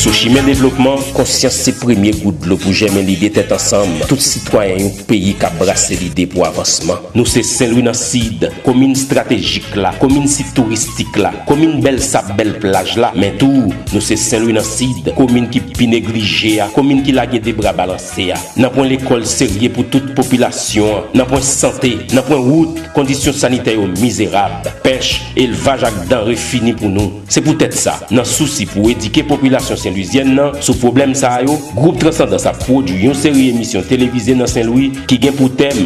Sou chimen devlopman, konsyans se premye gout dlo pou jèmen lide tèt ansanm tout sitwayen yon peyi k ap brase lide pou avansman. Nou se Senlwi nan Sid, komin estratejik la, komin sit touristik la, komin bèl sab bèl plaj la, men tou nou se Senlwi nan Sid, komin ki pi neglije a, komin ki lage de bra balanse. Se a, nan pwen lekòl serye pou tout popilasyon an, nan pwen sante, nan pwen wout, kondisyon sanitè yo mizerab, pèch, elvaj ak danre fini pou nou. Se poutèt sa, nan sousi pou edike popilasyon Senlwizyèn nan sou pwoblèm sa yo, Gwoup Transandans ap pwodui yon seri emisyon televize nan Senlwi ki gen pou tèm,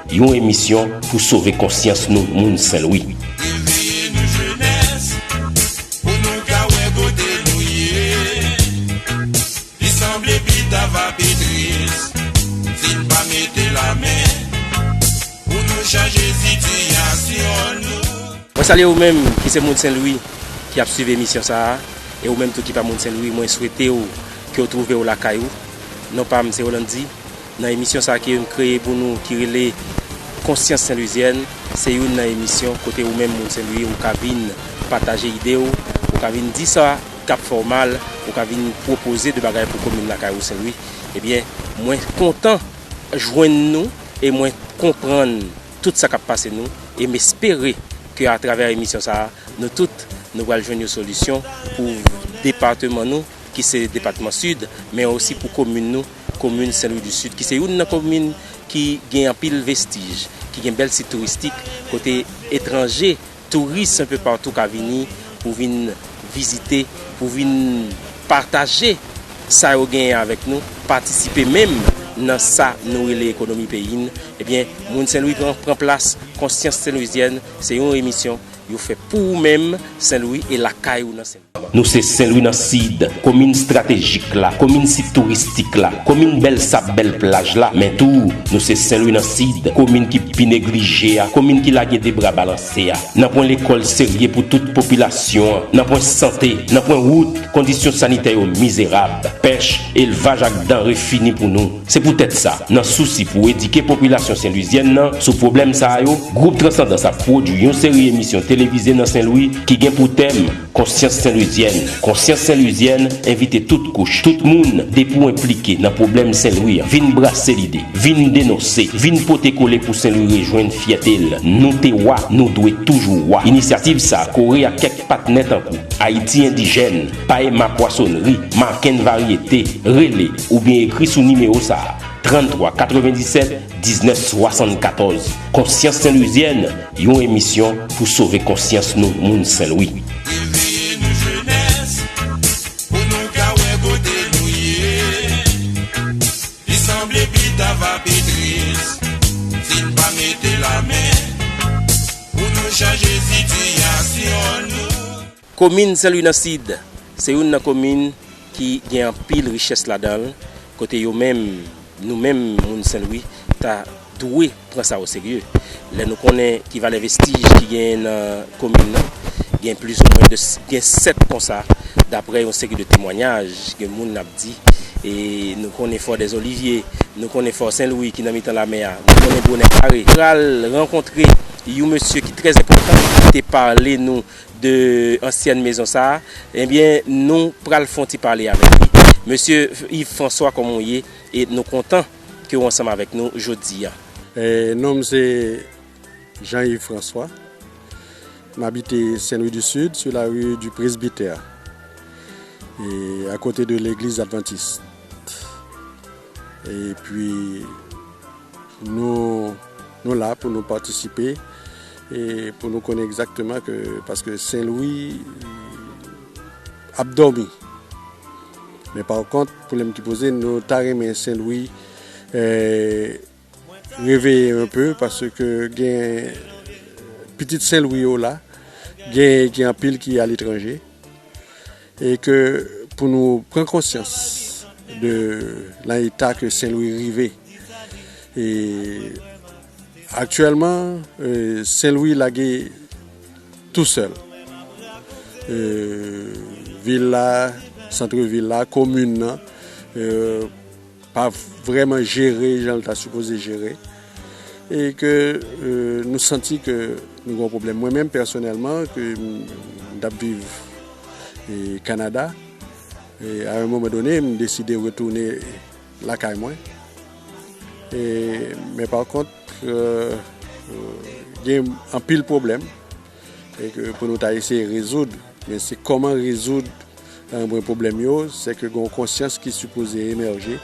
Yon emisyon pou sove konsyans nou moun Senlwi. Mwen salye ou menm ki se moun Senlwi ki ap swiv emisyon sa a e ou menm tou ki pa moun Senlwi mwen swete ou ke ou twouve ou lakay ou. Non pa m se Rolandi, Nan emisyon sa ke m kreye pou nou ki rele Konsyans Senlwizyèn, se youn nan emisyon kote ou menm moun Senlwi ou ka vin pataje ide w, ou ka vin di sa k ap fè w mal, ou ka vin pwopoze de bagay pou komin lakay ou Senlwi. Ebyen, mwen kontan jwenn nou e mwen konprann tout sa k ap pase nou e m espere ke atravè emisyon sa a, nou tout nou pral jwenn yon solisyon pou depateman nou ki se depatman Sid men osi pou komin nou. Komin Sen Lwi di Sid ki se youn nan komin ki gen anpil vestij, ki gen bèl sit touristik kote etranje, touris anpe patou ka vini pou vin vizite, pou vin pataje sa yo genyen avèk nou, patisipe menm nan sa nou rele ekonomi peyi n, ebyen moun Sen Lwi pran pran plas Konsyans Senlwizyèn se yon emisyon yo fè pou ou menm Sen Lwi e lakay ou nan Sen Lwi. Nou se Senlwi nan Sid, komin stratejik la, komin sit touristik la, komin bèl sab bèl plaj la, men tou nou se Senlwi nan Sid, komin ki pi neglije a, komin ki lage de bra balanse a. Nanpwen lekòl serye pou tout popilasyon an, nanpwen sante, nanpwen wout, kondisyon sanitè yo mizerab, pèch, elvaj ak danre fini pou nou. Se poutèt sa, nan sousi pou edike popilasyon Senlwizyèn nan sou pwoblèm sa yo, Gwoup Transandans ap pwodui yon seri emisyon televize nan Senlwi ki gen pou tèm, Konsyans Senlwizyèn. Konsyans Senlwizyèn envite tout kouch, tout moun, depi w enplike nan pwoblèm Senlwi an, vin brase lide, vin denonse, vin pote kole pou Senlwi rejwenn fyète l. Nou te wa, nou dwe toujou wa. Inisyativ sa kore ak kèk. Patnè tankou, Ayiti Endijèn, Paema Pwasonri, Macken Varyete, rele oubyen ekri sou nimewo sa a, 33 97 19 74. Konsyans Senlwizyèn, yon emisyon pou sove konsyans nou moun Senlwi. Reveye nou jenès pou nou ka wè kote nou ye Li sanble pita va pi tris si n pa mete lamen. Pou nou chanje sitiyasyon nou. Komin Senlwi nan Sid se youn nan komin ki gen anpil richès ladan l, kote yo menm, nou menm moun Senlwi ta dwe pran sa oserye. Lè nou konnen ki valè vestij ki genyen nan komin nan, gen plizoumwen gen 7 konsa daprè yon seri de temwanyaj ke moun ap di. E nou konnen Fò dè Zolivye, nou konnen Fò Sen Lwi ki nan mitan lamè a, nou konnen Bonè Kare. Pral rankontre yon mesye ki trè enpòtan e ki te pale nou de ansyèn mezon sa a. Ebyen, nou pral fè yon ti pale avèk li. Mesye Yves François kòman w ye? E nou kontan ke w ansanm avèk nou jodi a. Nom m se. Jean Yves François, m abite Sen Lwi di Sid sou lari di Presbitè e akote de legliz Advantis. E pi nou la pou nou patisipe e pou nou konnen egzakteman ke paske Sen Lwi ap dòmi. Men pa kont pou lèm ki poze nou ta renmen Sen Lwi e... Reveye un peu paske gen pitit senlwi yo la gen gen anpil ki a letranje e ke pou nou pran konsyans de lan eta ke senlwi rive e aktyèlman senlwi lage tou sèl e vil la santre vil la komin nan. pa vrèman jere jan l ta sipoze jere e ke nou santi ke nou gen yon pwoblèm. Mwen menm pèsonèlman ke m t ap viv Kanada, a yon moman done m deside retounen lakay mwen men pa kont gen anpil pwoblèm. e ke pou nou ta eseye rezoud men se kòman rezoud anbren pwoblèm yo se ke gon konsyans ki sipoze emèje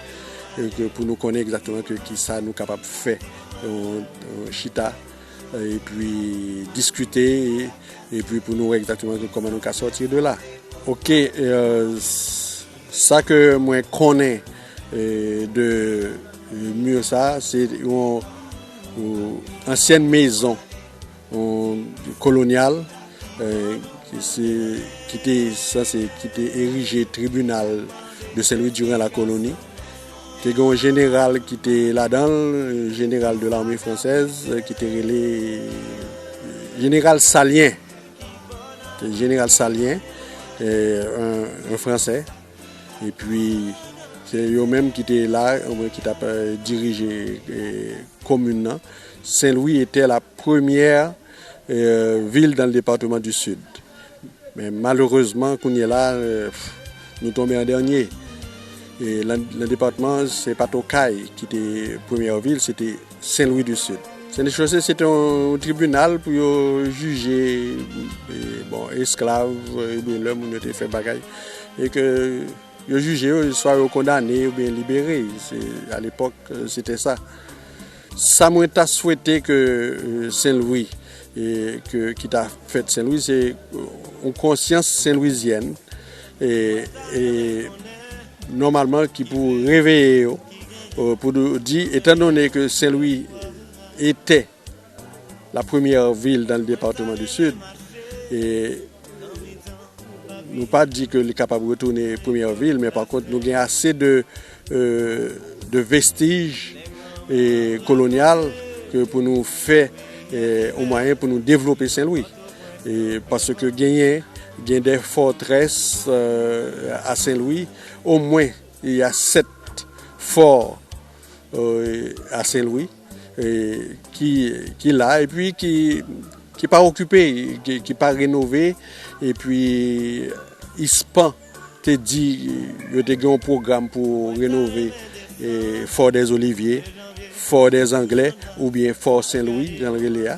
e ke pou nou konnen egzakteman ke ki sa nou kapab fè chita e pi diskute e pi pou nou wè egzakteman ke kòman nou ka sòti de la ok sa ke mwen konnen de mur sa se yon ansyen mezon kolonyal ki te sanse ki te erije tribinal de senlwi diran la koloni te gen yon jeneral ki te ladan jeneral de lame fransèz ki te rele jeneral salyen jeneral salyen yon fransè E pi se yo menm ki te la, oubyen ki t ap dirije komin nan. Sen Lwi etè la premyè vil dan le departeman di Sid. Men malerezman kounye la nou tonbe an dènye. E lan departeman se pa t Okay ki te premyè vil. Sen Lwi di Sid. Sen Lwi Chose se te yon tribinal pou yo jije esklav oubyen lè moun yo te fè bagay. E ke yo jije yo, swa yo kondane oubyen yo libere. A lepòk, se te sa. Sa mwen ta swete ke Sen Lwi, ki ta fèt Sen Lwi, se yon konsyans Sen Lwizyèn. Nòmalman ki pou reveye yo pou di etan donnen ke Senlwi etè la premyè vil dan departeman di Sid e nou pa di ke li kapab retounen premyè vil men pa kont nou gen ase de euh, vestij kolonyal ke pou nou fè ou mwayen pou nou devlope Senlwi. Paske genyen gen de fòtrès a Sen Lwi, omwen y a 7 fò a Sen Lwi ki la epi ki pa okipe, ki pa renove epi ispan te di yo te gen yon pwogram pou renove fò dèzolivye, fò dèzanglè oubyen fò Sen Lwi jan l rele a.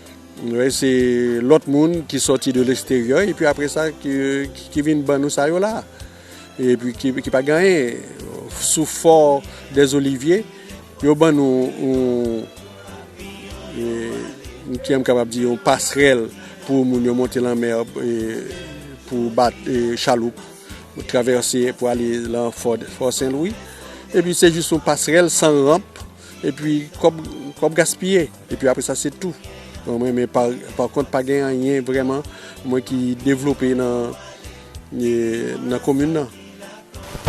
Wi se lòt moun ki sòti de lesteryè epi apre sa ki vin ban nou sa yo la epi ki pa gen anyen sou fò dè zolivye yo ban nou yon kiyèm kapab di yon pasrèl pou moun yo monte lanmè pou bat chaloup pou travèse pou ale lan fò senlwi epi se jis yon pasrèl san ranp epi kòb gaspiye Epi apre sa se tou. Mwen men pa kont pa gen anyen vreman mwen ki devlope nan komin nan.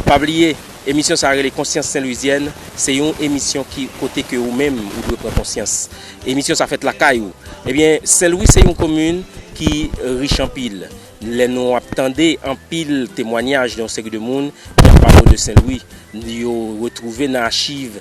Pa bliye emisyon sa rele konsyans senlwizyèn se yon emisyon ki kote ke ou menm ou dwe pran konsyans emisyon sa fèt lakay ou ebyen senlwi se yon komin ki rich anpil lè nou ap tande anpil temwanyaj yon seri de moun ki ap pale de senlwi yo retwouve nan achiv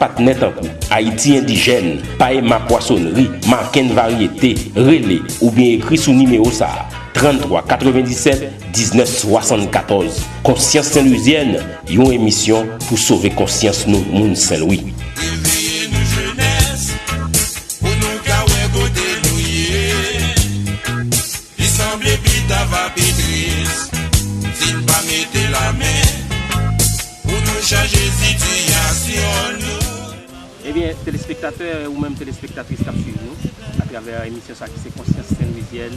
Patnè tankou, Ayiti Endijèn, Paema Pwasonri, Macken Varyete, rele oubyen ekri sou nimewo sa a, 33 97 19 74. Konsyans Senlwizyèn, yon emisyon pou sove konsyans nou moun Senlwi. Reveye nou jenès pou nou ka wè kote nou ye. Li sanble pita va pi tris si n pa mete lamen pou nou chanje sitiyasyon nou. Ebyen telespektatè ou menm telespektatris kap swiv nou atravè emisyon sa ki se konsyans senlwizyèn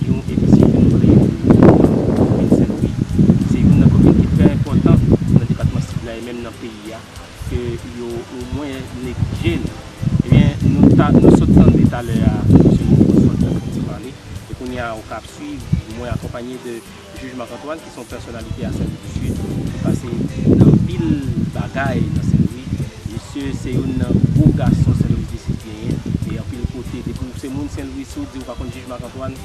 yon emisyon ke nou kreye pou moun komin senlwi ki se youn nan komin ki trè enpòtan nan depatman sid la e menm nan peyi a. ke yo o mwen neglije nou ebyen nou ta nou sot tande talè a mesye Monfort sot nan fon ti pale e kounye a ou ka ap swiv mwen akonpanye de jij Marc Antoine ki son pèsonalite a Senlwi di Sid ki pase nan anpil bagay nan Senlwi misye se youn nan gwo gason Senlwi di Sid genyen e anpil kote depi ou se moun Senlwi si ou di ou pa konn jij Marc Antoine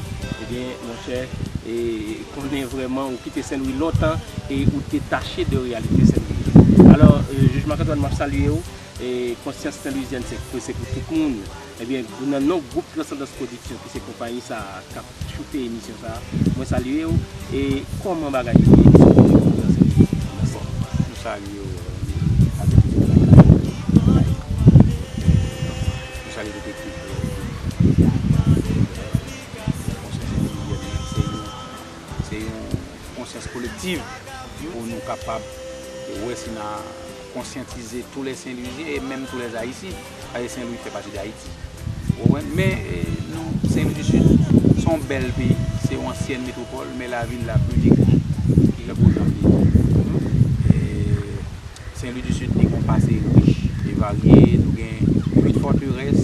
ebyen monchè e Konnen vrèman ou kite Senlwi lontan e ou detache de reyalite Senlwi a. Alò, Jij Marc-Antoine m ap salye ou. Konsyans Senlwizyèn se pou tout moun. Ebyen, nan non gwoup Transandans Pwodiksyon ki se konpayi sa a k ap choute emisyon sa a, mwen salye ou. E kòman bagay yo ye sou teren an nan Senlwi? Mèsi. Nou salye ou avèk ekip Lakay la, Lakay Piblik Senlwi a. Nou salye tout ekip Lakay Piblik Senlwi a. Yon konsyans endividyèl men se yon se yon konsyans kolektiv pou nou kapab wè si na konsyantize tou lè Senlwizyen e menm tou lè Ayisyen paske Senlwi fè pati dAyiti ou konprann men nou Senlwi di Sid se yon bèl peyi se yon ansyèn metwopòl men lavi n la pi degre li tankou yon janvye e Senlwi di Sid li gen yon pase rich e varye nou gen 8 fòterès.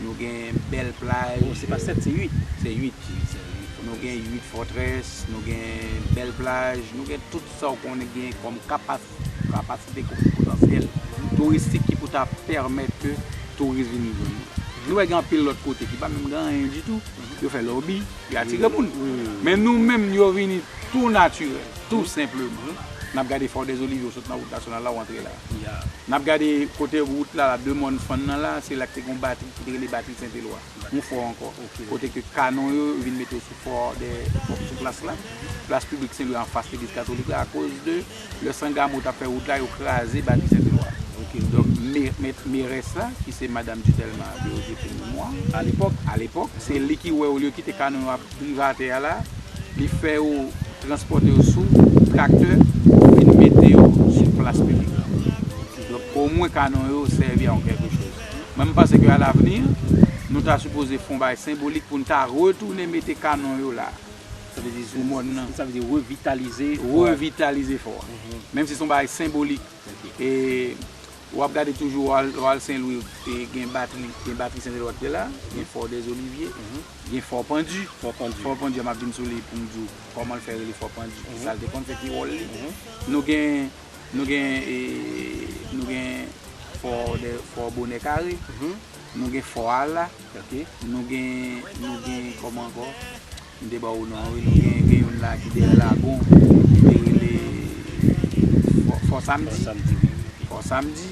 Nou gen bèl plaj. Oh se pa 7 se 8. Se 8 wi se 8. Nou gen 8 fòtrès, nou gen bèl plaj, nou gen tout sa ou konnen ki gen kòm kapasite kòm potansyèl touristik ki pou ta pèmèt ke touris vin nan zòn nou. Nou wè gen anpil lòt kote ki pa menm gen anyen ditou, yo fè lòbi, yo atire moun. Men nou menm yo vini tou natirèl, tou senpleman. N ap gade Fòdèzolivye ou sot nan wout nasyonal la ou antre la. Ya. N ap gade kote wout la la, de mòn fann nan la, se la ki te gen yon batri ki te rele batri Sent Elwa. Yon fò ankò. Kote ke kanon yo vin mete yo sou fò dè sou plas la. Plas piblik Sen Lwi a anfas legliz katolik la akoz de lè Sangamo t ap fè wout la yo kraze batri Sent Elwa. Donk me mèt merès la ki se madam Dutèlma Deodye pou memwa. Alepòk. Alepòk se li ki wè olye kite kanon yo ap. privatè a la, li fè yo transpòte yo sou traktè pou vin mete yo sou plas piblik la. Donk omwen kanon yo sèvi a yon kèlke choz. Mwen m panse ke alavni, nou ta sipoze fon bagay senbolik pou n ta retounen mete kanon yo la. Sa vle di sou mòn nan. Sa vle di revitalize. Revitalize fò a. Menm si son bagay senbolik. E. Wap gade toujou wal senlwi gen batri gen batri senlwi wap gade la gen fò dèzolivye gen fò pandu fò pandu a map vin sou li poum diw kòmanl fè rele fò pandu kisal te konn fè ki wòl li nou gen nou gen nou gen fò dè fò bonè kare nou gen fò ala nou gen nou gen kòman ankò. M te ba w non an wi nou gen gen youn la ki dèyè lagon li te rele fò samdi fò samdi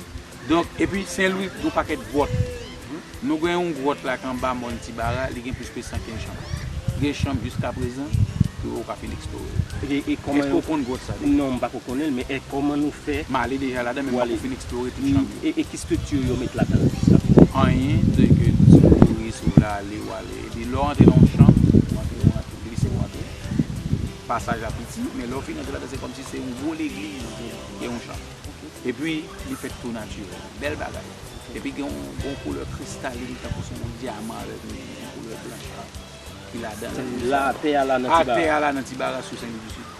donk epi senlwi gon pakèt gwòt nou gen yon gwòt la ki anba mòn ti bara li gen plis ke san kenz chanm gen chanm jiska prezan ki ou ka fin eksplore yo e kòman ou konn gwòt sa deja non m pako konnen l men e kòman nou fè m ale deja ladan men m pako fin eksplore tout chanm yo e ki strikti yo met ladan l jiska prezan anyen se ke si w kouri si w vle ale w ale. Epi lè w antre nan yon chanm, ou antre, ou antre, ou glise ou antre. Pasaj la piti, men lè w fin antre ladan se kòmsi se yon gwo legliz ou vin, gen yon chanm. Epi li fèt tou natirèl. Bèl bagay. Epi gen yon koulè kristalin tankou se yon dyaman avèk yon koulè blanch ki ladan l. Atè a la nan Tibaras. Atè a la nan Tibaras sou Senlwi di Sid.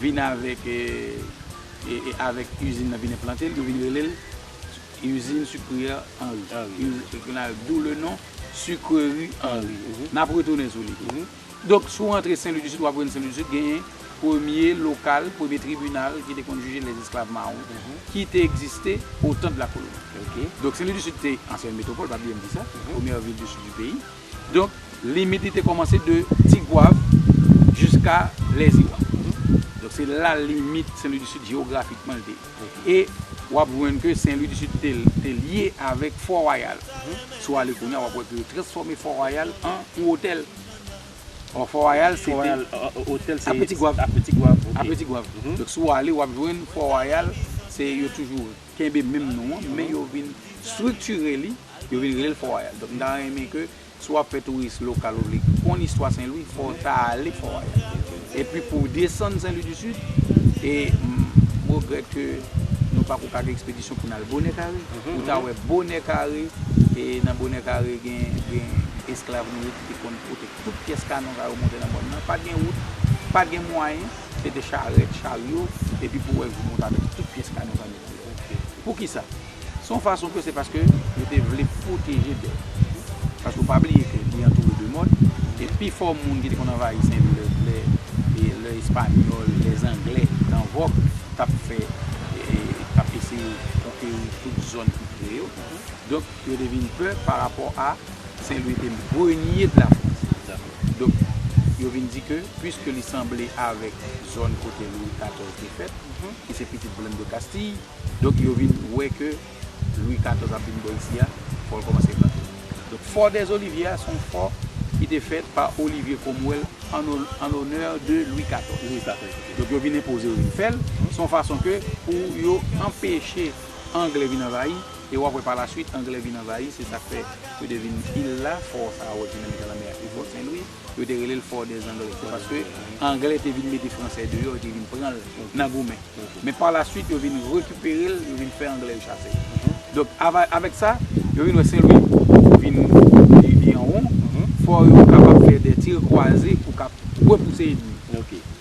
Vin avèk avèk usine nan vin enplante l yo vin rele l usine sucrière Henry d'où le nom sucrerie Henry nap retounen sou li donk si w rantre Senlwi di Sid wap jwenn Senlwi di Sid genyen premye lokal premye tribinal ki te konn jije lè esklav mawon ki te egziste au tan de la koloni donk Senlwi di Sid te ansyen metropole pa bliye m di sa premyè vil du Sud du peyi. Donk, limit li te kòmanse de Tigwav jiska Lèziwa. Donk, se la limit Sen Lwi di Sid jewografikman li te ye. E, w ap jwenn ke Sen Lwi di Sid te lye avèk Fò Wayal. Si w ale kounye a, w ap wè ke yo transfòme Fò Wayal an yon otèl. Ò, Fò Wayal se te apre Tigwav. Apre Tigwav, ok. Apre Tigwav. Donk, si w ale, w ap jwenn Fò Wayal se yo toujou. kenbe menm non an men yo vin striktire li, yo vin rele l Fò Wayal. Donk m ta renmen ke si w ap fè touris lokal ou vle konn istwa Sen Lwi fò w ta ale Fò Wayal. Epi pou w desann Sen Lwi di Sid, e m regrèt ke nou pa ko ka gen ekspedisyon pou n al Bonè Kare, ou ta wè Bonè Kare, e nan Bonè Kare gen esklav nou yo ki te konn pote tout pyès kanon sa yo monte nan mòn nan. Pa t gen wout, pa t gen mwayen. Se te charèt, charyo, epi pou wè gripon ta mete tout pyès kanè sa mete deyò. Pou ki sa? Se yon fason ke se paske yo te vle pwoteje bèt. Paske ou pa bliye ke li antoure de mòn, e pi fò moun ki te konn anvayi Senlwi lè, lè, lè espanyòl, lè zanglè nan vòk t ap fè, t ap eseye konkeri tout zòn ki pre yo. Donk yo te vin pè pa rapò a. Sen Lwi te mpremye de la Frans. Donk, yo vin di ke, pwiske li sanble avèk zòn kote Lwi 14 te fèt, ki se pitit Blann de Kastiy, donk yo vin wè ke Lwi 14 ap vin bò isi a, fò l kòmanse vante. Donk, Fò dè Zolivye a, se yon fò ki te fèt pa Olivye Kromwèl an onè de Lwi 14. Lwi 14, ok. Donk, yo vin enpoze, yo vin fè l. Se yon fason ke, pou yo anpeche Angle vin anvayi, E w ap wè pa la swit Angle vin anvayi, se sa k fè yo te vin il la, fò sa a ou wè ki nan mitan lanmè a se fò Sen Lwi, yo te rele l fò dè Angle, se paske Angle te vin mete Fransè deyò, yo te vin pran l nan goumen. Men pa la swit yo vin rekipere l, yo vin fè Angle yo chase l. Donk avèk sa, yo vin wè Sen Lwi vin li an won, fò yo kapab fè dè tir kwaze pou kap repouse enmi.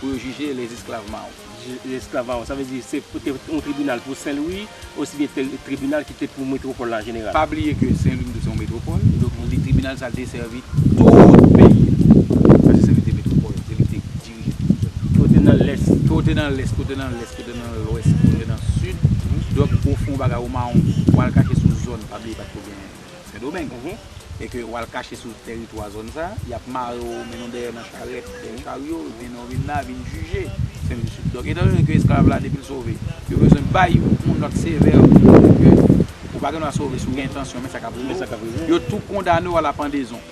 Pou yo jije les esclaves Mao. Les esclaves Mao, sa vle di se te yon tribinal pou Sen Lwi osi byen te yon tribinal ki te pou metwopòl la an jeneral? Pa bliye ke Sen Lwi tou se yon metwopòl, donk li tribinal sa te sèvi tout peyi a. Paske Sen Lwi te metwopòl la, se li ki te dirije tout zòn nan. Ke w te nan lès. Ke w te nan lès, ke w te nan lès, ke w te nan lwès, ke w te nan sid, donk ou fè yon bagay ou mawon, ou al kache sou zòn, pa bliye pa t ko gen. Sendomeng e ke wal kache sou teritwa zòn sa, yap mare w mennen w dèyè nan charèt, dèyè charyo, yo mennen w vin la, vin jije. Donk etan done ke esklav la depi l sove, yo bezwen bay yon yon nòt sevè pou montre ke ou pa gen dwa sove si w gen entansyon men sa kap rive w, yo tou kondane w a la pandezon.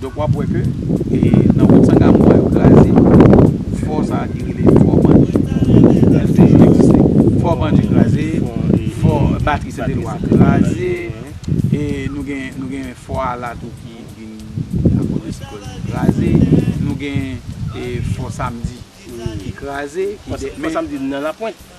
Donk wap wè ke nan wout sanga mou a yo kraze fò sa ki rele fò bandi fò bandi kraze fò batri sete lwa kraze e nou gen fò a la tou ki vin akoz de siklòn nan kraze nou gen fò samdi ki kraze fò samdi nan lapwent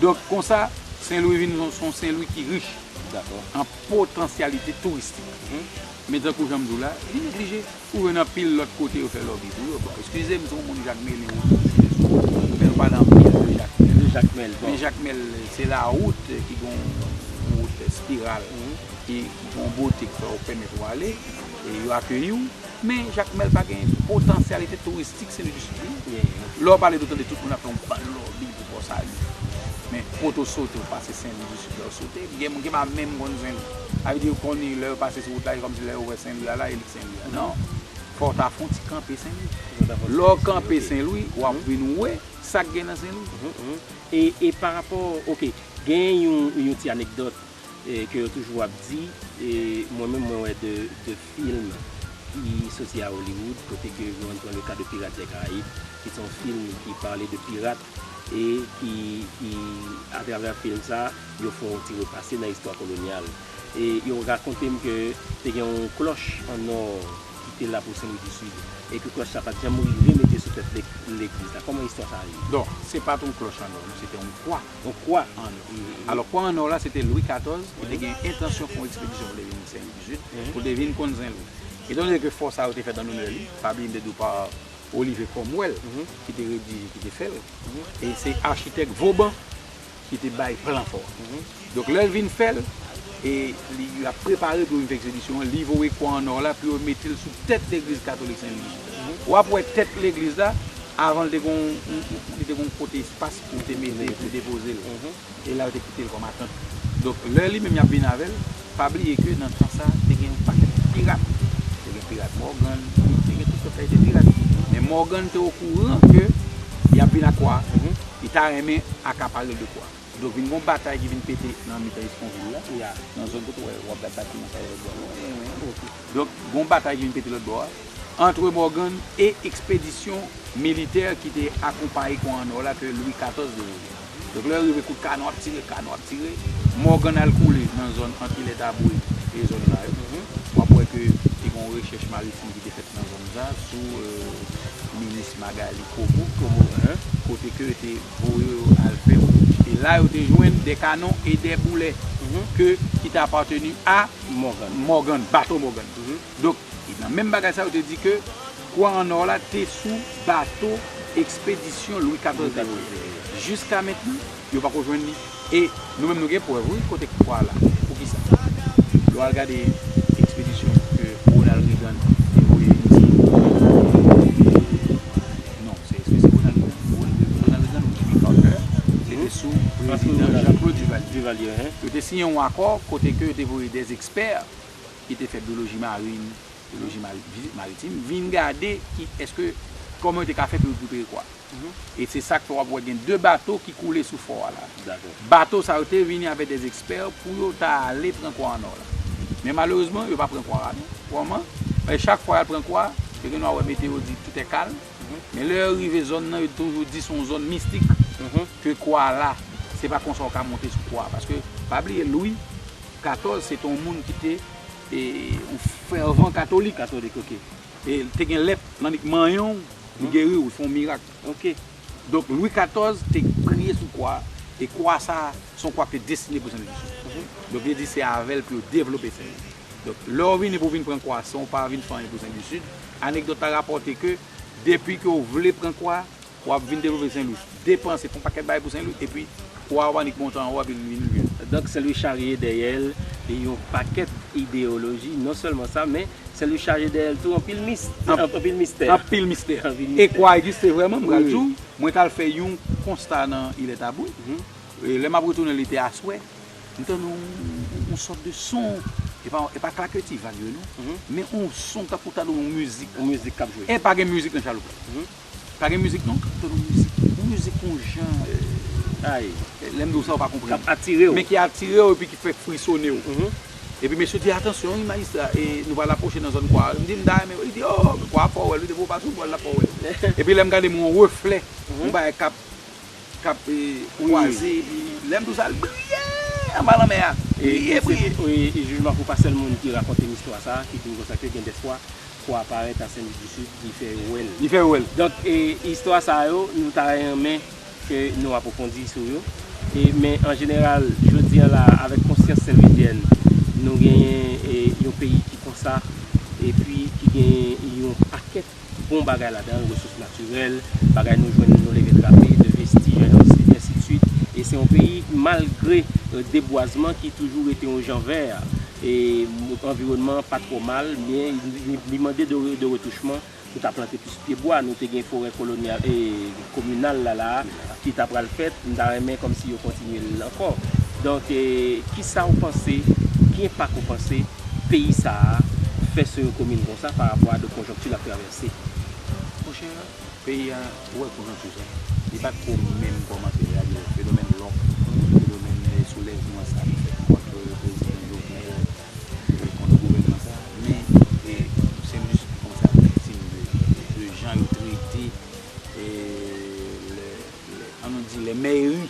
Donk konsa, Sen Lwi vin yon Sen Lwi ki rich an potansyalite touristik. Men tankou jan m di w la, li neglije. Ou jwenn anpil lòt kote yo fè lòbi pou yo. Bon, eskize m, se yon moun Jakmelen ou tou, se sou wout moun, men nou pale anpil de Jakmèl. De Jakmèl, bon. Men Jakmèl, se la wout ki gen yon wout espiral ki gen yon bote ki fè ou pèmèt ou ale e yo akeyi ou. Men Jakmèl pa gen potansyalite touristik se li jis li. Lè w pale dotan de tout moun ap fè yon bal lòbing pou Pò Sali. Men kote w sote ou pase Sen Lwi Disid lè w sote. Gen moun ki pa menm konn Sen Lwi. Sa vle di yo konn li lè yo pase sou wout la se kòmsi lè yo wè Sen Lwi a la e li k Sen Lwi a. Non. Fò w ta fon ti kanpe Sen Lwi. Lè w kanpe Sen Lwi w ap vin wè sa k gen nan Sen Lwi. E parapò, ok, gen yon ti anekdòt. ke yo toujou ap di e mwen menm mwen wè de film ki soti a Hollywood kote ke yo pran le ka de Pirates des Caraïbes ki se yon film ki pale de pirat e ki a travè film sa yo fè yon ti repase nan istwa kolonyal e yo rakonte m ke te gen yon klòch an nò ki te la pou Sen Lwi di Sid e ke klòch sa pat janm rive mete sou tèt legliz la kòman istwa sa rive? Don se pat yon klòch an nò non se te yon kwa. On kwa an nò. Alò kwa an nò la se te Lwi 14 ki te gen entansyon fè yon ekspedisyon pou l te vin Sen Lwi 18, pou l te vin konn Sen Lwi. Etan done ke fò sa yo te fèt an lonè li, sa ap vin detou pa Olive Cromwell ki te redije, ki te fè l, e se achitèk Vauban ki te bay plan fò a. Donk lè l vin fè l, e li ap prepare pou yo vin fè ekspedisyon an, li voye kwa an nò la pou yo mete l sou tèt legliz katolik Sen Lwi 18. W ap wè tèt legliz la, avan l te gen yon, li te gen yon kote espas. Ou te mete pou depoze l. E la yo te kite l kòm atant. Donk lè li menm y ap vin avè l, pa bliye ke nan tan sa te gen yon pakèt pirat. Te gen pirat Mògàn, te gen tout sòt kalite pirat. Men Mògàn te okouran ke y ap vin ak wa a. Li ta renmen akapare l de kwa. Donk vin gen yon batay ki vin pete nan mitan Eskonvil la. Nan zòn kote w ap gad batiman sa yo. Donk, gon batay ki vin pete lòt bò a, antre Morgan e ekspedisyon militè ki te akonpaye kon an or la ke Louis 14 te voye. Donk, lè yo rive kout kanon ap tire, kanon ap tire, Morgan al koule nan zòn ant Ilè Taboué e zòn la yo. W ap wè ke te gon rechèch maritim ki te fèt nan zòn sa a sou minis Magalie Comeau, kote ke yo te voye yo al fè rechèch. E la yo te jwenn de kanon e de boulè ke ki te apateni a. Morgan, Morgan, bato Morgan. Donk, nan menm bagay sa yo te di ke Kwa an Nò la te sou bato ekspedisyon Lwi 14 te voye. Jiska mentnan, yo pako jwenn li. E nou menm nou gen prèv wi kote Kwa la. Poukisa? Lè w al gade ekspedisyon ke Ronald Reagan te voye Ayiti, Non, se Ronald Reagan ou Jimmy Carter ki te sou prezidan Jean-Claude Duvalier. Yo te siyen yon akò kote ke yo te voye de ekspè ki te fè byoloji marin, byoloji maritim vin gade ki eske, kòman yo te ka fè pou yo rekipere kò a. E se sa k fè w ap wè gen 2 bato ki koule sou fò a la. Bato sa yo te vini avèk des experts pou yo ta ale pran kwa an or la. Men malerezman yo pa pran kwa a non. Kòman? Paske chak fwa yal pran kwa a, yo gen dwa wè meteo yo di tout est calme, men lè yo rive zòn nan yo toujou di son zòn mistik ke kwa a la. Se pa konsa ou ka monte sou kwa a. Paske pa bliye Louis 14 se te yon moun ki te yon fervent katolik. Katolik ok. E te gen lèp nan li k manyen w, li geri w, li fè yon mirak. Ok. Donk Lwi 14 te kriye sou kwa a, e kwa a sa a, se yon kwa ki te destine pou Senlwichou. Donk yo di se avè l pou yo devlope Senlwi. Donk lè w vini pou w vin pran kwa a san w pa vin fè anyen pou Senlwichid, anekdòt la rapòte ke depi ke w vle pran kwa a, w ap vin devlope Senlwi, depanse, fè yon pakèt bagay pou Senlwi, epi. Waw annik bon tan wap vin vin vin. Donk sèl yo charye dèyèl yon pakèt ideyoloji non sèlman sa men sèl yo charye dèyèl tou anpil mistè anpil mistè e kwa egziste vrèman m pral di w mwen tal fè yon konsta nan ilè tabou lè map retounen li te aswè m tande yon sòt de son e pa klaketi vag yo non men yon son tankou ta dwe yon mizik epa gen mizik nan chaloupèt Pa gen mizik non kap tann yon mizik yon mizik yon jan ayy lèm diw sa ou pa konprann kap atirew men ki atirew epi ki fè frisonew epi mesye di atansyon wi majistra e nou pral apwoche nan zòn kwa m di m ta renmen wè li di oo kwa fò wèl wi depi ou pa sou bòl la fò wèl epi lèm gade m wè yon reflè yon bagay kap k ap kwaze epi lè m tou sa l briye anba lanmè a briye briye. E jijman pou pa sèl moun ki rakonte m istwa sa ki di m konsa ke gen dè fwa fò a parèt a Sen Lik di Sid li fè yo wè l. Li fè yo wè l. Donk e istwa sa yo nou ta renmen ke nou apwofondi sou yo e men an jeneral jodi an la avèk konsyans senlwizyèn nou genyen e yon peyi ki konsa epi ki genyen yon pakèt bon bagay ladan l, resous natirèl, bagay nou jwenn nou leve trape, de vestij ensidswit. E se yon peyi malgre debwazman ki toujou rete yon jan vè a. E anviwònman an pa twò mal men li mande de retouchman pou ta plante plis pyebwa. Nou te gen forè kolonyal e. kominal la la a ki ta pral fèt, m ta renmen kòmsi yo kontinye l ankò. Donk, ki sa ou panse, ki enpak ou panse peyi sa a fè sou yon komin konsa pa rapò a de konjonkti l ap travèse? Mon chè, peyi a, ou wè konjonkti sa, li pa t ko menm kòmanse la. Gade fenomèn lòk, fenomèn soulèvman sa ki fèt kontre prezidan Jovenel e kontre gouvènman sa a. Men, se jis yon sa viktim de jan yo trete. an nou di lè mèri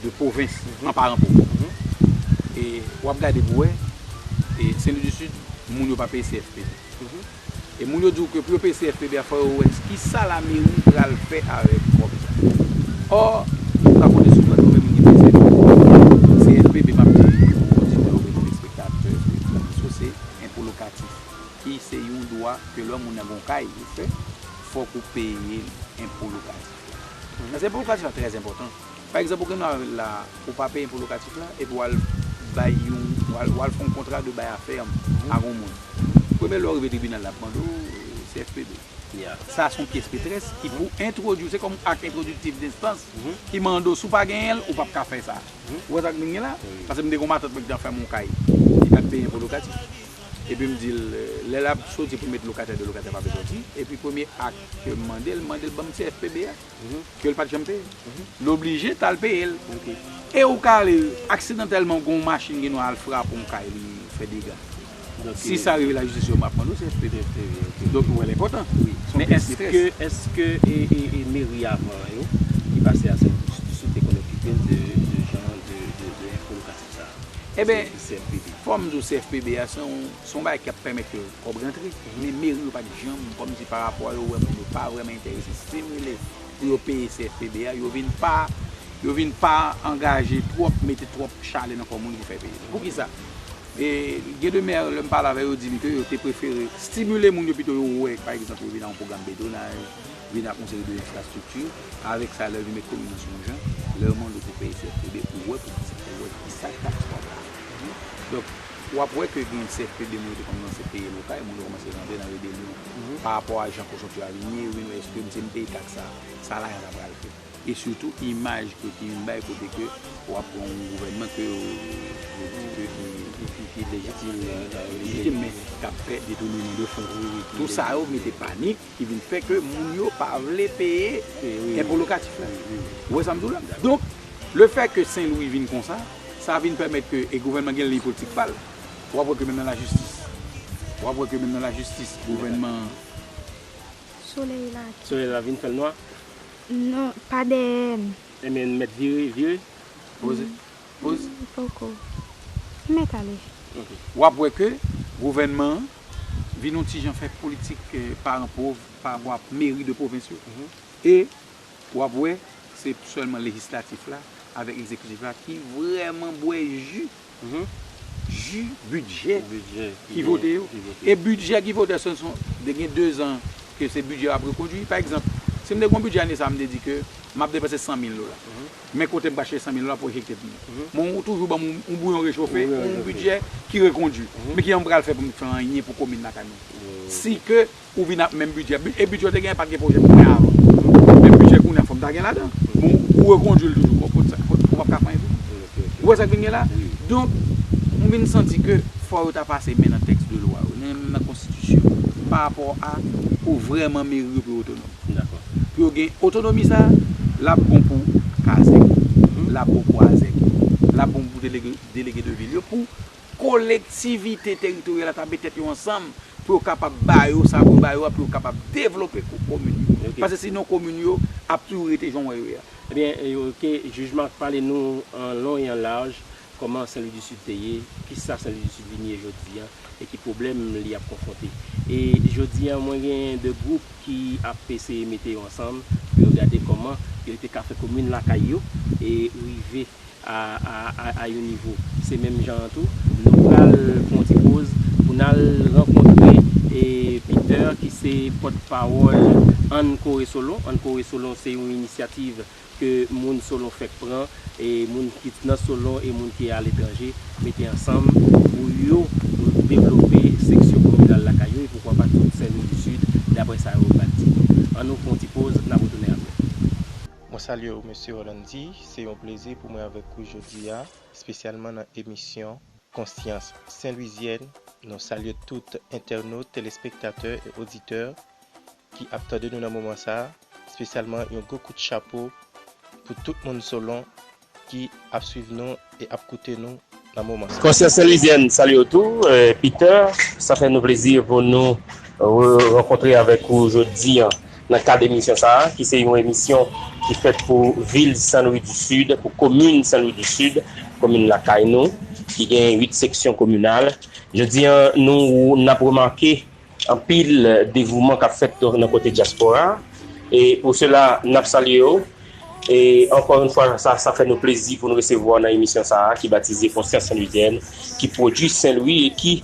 de pwovens an paran pou ou. E wap gade pou wè, Sen Lwi di Sid, moun yo pa peye CFPB. E moun yo di ou ke pou yo peye CFPB a fò yo wè ki sa la mèri pral fè avèk kòb sa. Ò, ou ka konte sou mwen pou mèm mwen gen pèsè de kòb. CFPB map di pou oditè ou byen telespektatè ke Kòm Sou se enpo lokatif. Ki se yon dwa ke lò moun nan gon kay ou fè, fòk ou peye li enpo lokatif la. Paske enpo lokatif la trè enpòtan. Pa egzanp ou gen dwa rete la a, ou pa peye enpo lokatif la epi w al bay yon, w al fè yon kontra de bay a fèm ak yon moun. Premye lè ou rive tribinal la ap mande w CFPB. Sa se yon pyès metrès ki pou entwodui w, se kòm ak entwodiktif denstans ki mande w si w pa genyen l, ou pap ka fè sa. Ou wè sa m vin di la? Paske m te gen yon matant mwen ki te fè m yon kay li pat peye enpo lokatif. epi m di l lè l ap soti pou met lokatè de lokatè pa vle soti epi premye ak ke m mande l mande l banm CFPB a ke l pat janm peye l oblije t al peye l e ou ka ale aksidantèlman gon w machin gen dwa al frape yon kay li fè dega si sa rive lajistis yo m ap mande w CFPB donk ou wè l enpòtan men èske èske e meri avan yo ki pase a Senlwi sou te konn okipe l de jan de enfo lokatè Eben, fòm di w CFPB a, se yon bagay ki ap pèmèt ke kòb rantre, men meri yo pa t janm, kòm si parapò a yo wè moun yo pa vrèman enterese stimile pou yo peye CFPB a, yo vin pa, yo vin pa angaje twòp, mete twòp chalè nan kò moun pou fè peye li. Poukisa? Gen de mè, lè m pale avè yo, yo di m ke yo te prefere stimile moun yo pito yo wè, pa egzanp, yo vin nan yon pwogram bedonaj, vin ak yon seri de enfrastrikti, avèk sa lè vin met komin nan sou yon jan, lè yo mande w pou peye CFPB, ou wè pou kisa, ou wè kisa taks wap bay. Donk, wap wè ke gen CFPB moun yo te kòmanse peye lokay, moun yo kòmanse rantre nan rebelyon pa rapò a jan kosonpsyon yo a vin ye, yo vin wè eske m si m peye taks sa, sa lajan sa pral fè? E sitou imaj ke ki vin bay kote ke wap pran yon gouvènman ke yo di ke ki lejitim, men kap fè detounèman de fon. Tou sa yo mete panik Ki vin fè ke moun yo pa vle peye enpo lokatif la. Ou wè sa m di w la? Donk, le fè ke Sen Lwi vin konsa, sa vin pèmèt ke, e gouvènman gen liy politik pa l, w ap wè ke menm nan lajistis, w ap wè ke menm nan lajistis, gouvènman an. Solèy la ki. Solèy la vin fè l nwa? Non, pa dèyè m. Enben, n mèt vire, vire. Poze. Poze. Poko. N mèt ale. Ok. W ap wè ke gouvènman an. vin yon ti jan fè politik paran pov pa vwa meri de pwovens yo e w ap wè se sèlman lejislatif la avèk egzekitif la ki vrèman bwè ji ji bidjè ki vote yo e bidjè ki vote se son de gen dezan ke se bidjè yo ap rekondui pa egzanp si m te gen yon bidjè ane sa a m te di ke m ap depanse 100 mil dola. Men kote m ka chèche sanmil dola pou echèk tèt mwen. Men ou toujou ban m yon bouyon rechofe, yon bidjè ki rekondui. Men kijan m pral fè pou m fè anyen pou komin lakay mwen? Si ke ou vin ak menm bidjè, e bidjè ou te genyen pa t gen pwojè pou fè avan. Menm bidjè kounye a fò m ta gen ladan. Men ou rekondui l toujou. Bon, ou pap ka fè anyen pou moun. Ou wè sa k vin gen la? Donk, m vin santi ke fò yo ta pase men nan tèks de lwa yo, menm nan konstitisyon, pa rapò a pou vrèman meri yo pi otonòm. M dakò. Pou yo gen otonomi sa a, l ap bon pou kazèk yo, l ap bon pou azèk yo, l ap bon pou delege delege de vil yo, pou kolektivite teritoryal la ta met tèt yo ansanm pou yo kapab ba yo sa pou yo ba yo a pou yo kapab devlope komin yo. Pase sinon komin yo ap toujou rete jan w wè yo ye a. Ebyen, ke jij Marc pale nou an long e an laj Kòman Sen Lwi di Sid te ye? Kisa Sen Lwi di Sid vin ye jodi an? E ki pwoblèm li ap konfwonte? E jodi an mwen genyen 2 gwoup ki ap eseye mete yo ansanm pou yo gade kòman yo te ka fè komin lakay yo e rive a yon nivo. Se menm jan an tou, nou pral fè yon ti poz pou n al rankontre Peter ki se pòtpawòl Ann Kore Solon. Ann Kore Solon se yon inisyativ ke moun Solon fèk pran, e moun ki nan Solon e moun ki aletranje mete ansanm pou yo devlope seksyon kominal lakay yo e poukwa pa tout Sen Lwi di Sid, dapre sa yo bat di nou. An nou fè yon ti poz, n ap retounen apre. Mwen salye w Mesye Orlandy, se yon plezi pou mwen avèk ou jodi a, espesyalman nan emisyon Konsyans Sen Lwizyèn. Nou salye tout entènot, telespektatè e oditè ki ap tande nou nan moman sa a, spesyalman yon gwo kout chapo pou tout moun Solon ki ap swiv nou e ap koute nou nan moman sa a. Konsyans Senlwizyèn salye w tou, Peter. Sa fè nou plezi pou nou re-rankontre avèk ou jodi an nan kad emisyon sa a, ki se yon emisyon ki fèt pou vil Senlwi di Sid, pou komin Senlwi di Sid, komin lakay nou, ki gen 8 seksyon kominal. Jodi an nou, n ap remake Anpil devouman kap fèt nan kote dyaspora e pou sela nap salye yo e ankò yon fwa sa fè nou plezi pou nou resevwa w nan emisyon sa a ki batize Konsyans Senlwizyèn ki pwodui Senlwi e ki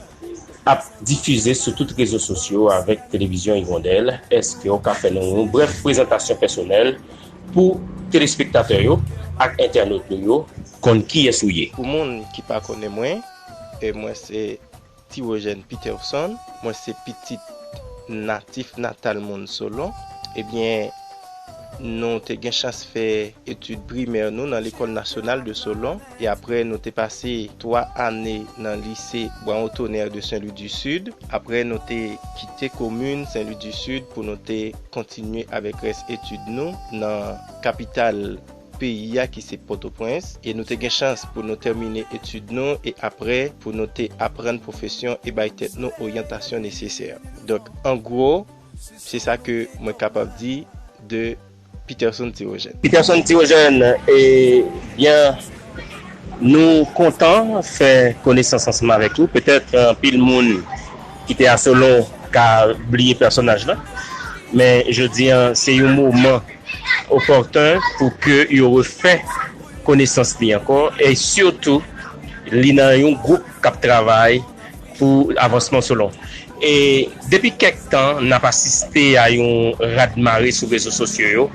ap difize sou tout rezo sosyo avèk Televizyon Igondèl eske w ka fè nou yon brèf prezantasyon pèsonèl pou telespektatè yo ak entènot nou yo konn kiyès ou ye? Pou moun ki pa konnen mwen, mwen se. Tirogène Peterson, mwen se pitit natif natal moun Solon. Ebyen, nou te gen chans fè etid primè nou nan Lekòl Nasyonal de Solon, e aprè nou te pase 3 ane nan Lise Bwa Otonè de Sen Lwi di Sid. Aprè nou te kite komin Sen Lwi di Sid pou nou te kontinye avèk rès etid nou nan kapital. peyi a ki se Pòtoprens e nou te gen chans pou nou tèmine etid nou e aprè pou nou te aprann pwofesyon e bay tèt nou oryantasyon nesesè. Donk an gwo se sa ke mwen kapab di de Peterson Thérogène. Peterson Thérogène, E byen nou kontan fè konesans ansanm avèk ou. Petèt anpil moun ki te a Solon ka bliye pèsonaj la men jodi a se yon moman opòten pou ke yo refè konesans li ankò e sitou li nan yon gwoup k ap travay pou avansman Solon. E depi kèk tan n ap asiste a yon rad mare sou rezo sosyo yo,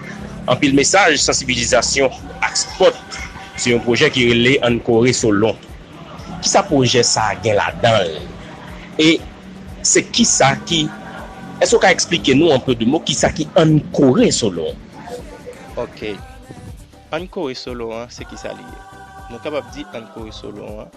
anpil mesaj sansibilizasyon ak spòt sou yon pwojè ki rele Ann Kore Solon. Kisa pwojè sa gen ladan l? E se kisa ki, èske ou ka eksplike nou an peu de mo kisa ki Ann Kore Solo? Ok. Ann Kore Solo an se kisa li ye? Nou kapab di Ann Kore Solo an,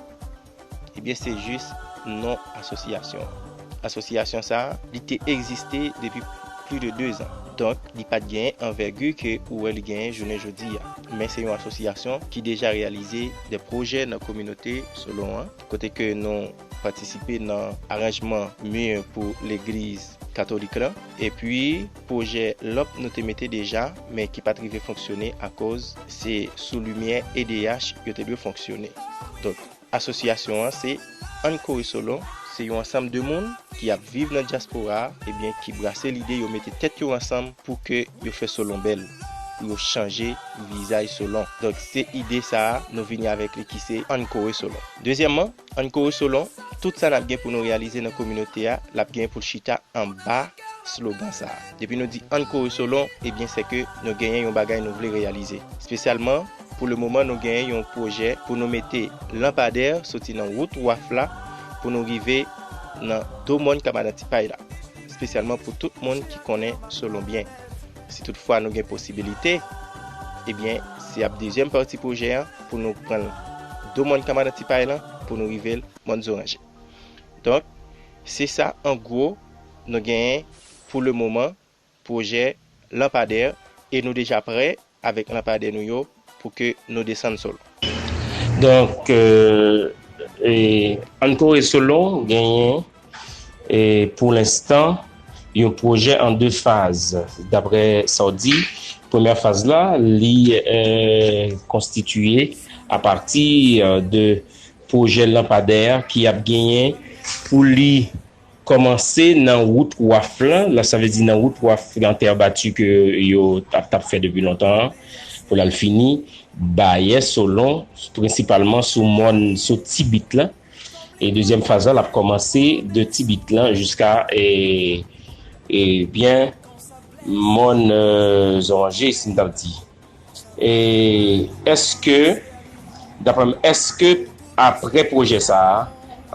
ebyen se jis non asosyasyon an. Asosyasyon sa a, li te egziste depi plis de 2 zan. Donk, li pa t genyen anvègi ke ou wè li genyen jounen jodi a. Men se yon asosyasyon ki deja reyalize de pwojè nan kominote Solon an, kote ke nou patisipe nan aranjman mi pou legliz katolik lan, epi pwojè lanp nou te mete deja, men ki pa t rive fonksyone akoz se sou limyè edh yo te dwe fonksyone. Donk, Asosyasyon an se Ann Kore Solon. Se yon ansanm de moun ki ap viv nan dyaspora a ebyen ki brase lide yo mete tèt yo ansanm pou ke yo fè Solon bèl, pou yo chanje vizaj Solon. Donk se ide sa a nou vini avèk li ki se Ann Kore Solon. Dezyèmman, Ann Kore Solon, tout sa n ap gen pou nou reyalize nan kominote a, l ap gen pou l chita anba slogan sa a. Depi nou di Ann Kore Solon, ebyen sèke nou genyen yon bagay nou vle reyalize. Spesyalman. Pou le moman nou gen yon pwojè pou nou mete lanpadè soti nan wout waf la pou nou rive nan do mòn kabadan ti pay la, spesyalman pou tout moun ki konnen Solon byen. Si tout fwa nou gen posibilite, ebyen se ap dezyèm pati pwojè an pou nou pran do mòn kabadan ti pay lan pou nou rive l mòn zoranje. Donk se sa an gwo nou gen pou le moman pwojè lanpadè e nou deja prè avèk lanpadè nou yo pou ke nou desann Solon. Donk, ann kore Solon genyen pou lenstan yon pwojè an 2 faz daprè sa w di. Premyè faz la li konstitiye apati de pwojè lanpadè ki ap genyen pou li. Kòmanse nan wout waf lan, lan sa vle di nan wout waf lan tè bati ke yo tap tap fè depi lontan an, pou lal fini Bayè Solon, prensipalman sou mòn sou Ti Bit lan, e dezyèm faz lan lap kòmanse de Ti Bit lan jiska e e byen mòn Zonje si m tap di. E èske, daprè m, èske aprè pwojè sa a,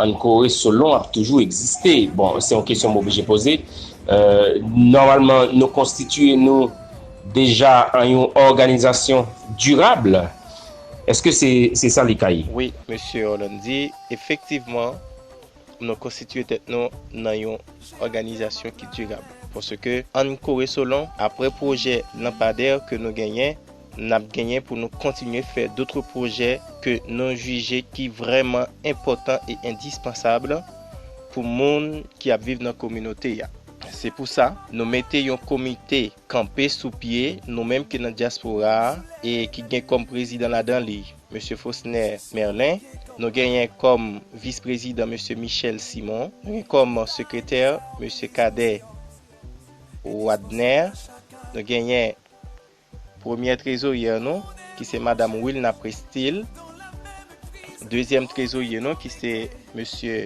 ann Kore Solon ap toujou egziste? Bon, se yon kesyon m oblije poze. Nòmalman, nou konstitiye nou deja an yon òganizasyon dirab. Èske se sa li ka ye? Wi, Mesye Orlandi, efektivman. Nou konstitiye tèt nou nan yon òganizasyon ki dirab. Paske ann kore solon, apre pwojè lanpadè ke nou genyen, n ap genyen pou nou kontinye fè dotre pwojè ke nou jije ki vrèman enpòtan e endispansab pou moun ki ap viv nan kominote a. Se pou sa, nou mete yon komite Kanpe sou pye nou menm ki nan dyaspora a e ki gen kòm prezidan ladan li Mesye Fausner Merlin, nou genyen kòm vis prezidan Mesye Michel Simon, nou gen kòm sekretè Mesye Cadet Wadner, nou genyen premyè trezoryè nou ki se Madam Wilna Prestil, dezyèm trezorye nou ki se Mesye.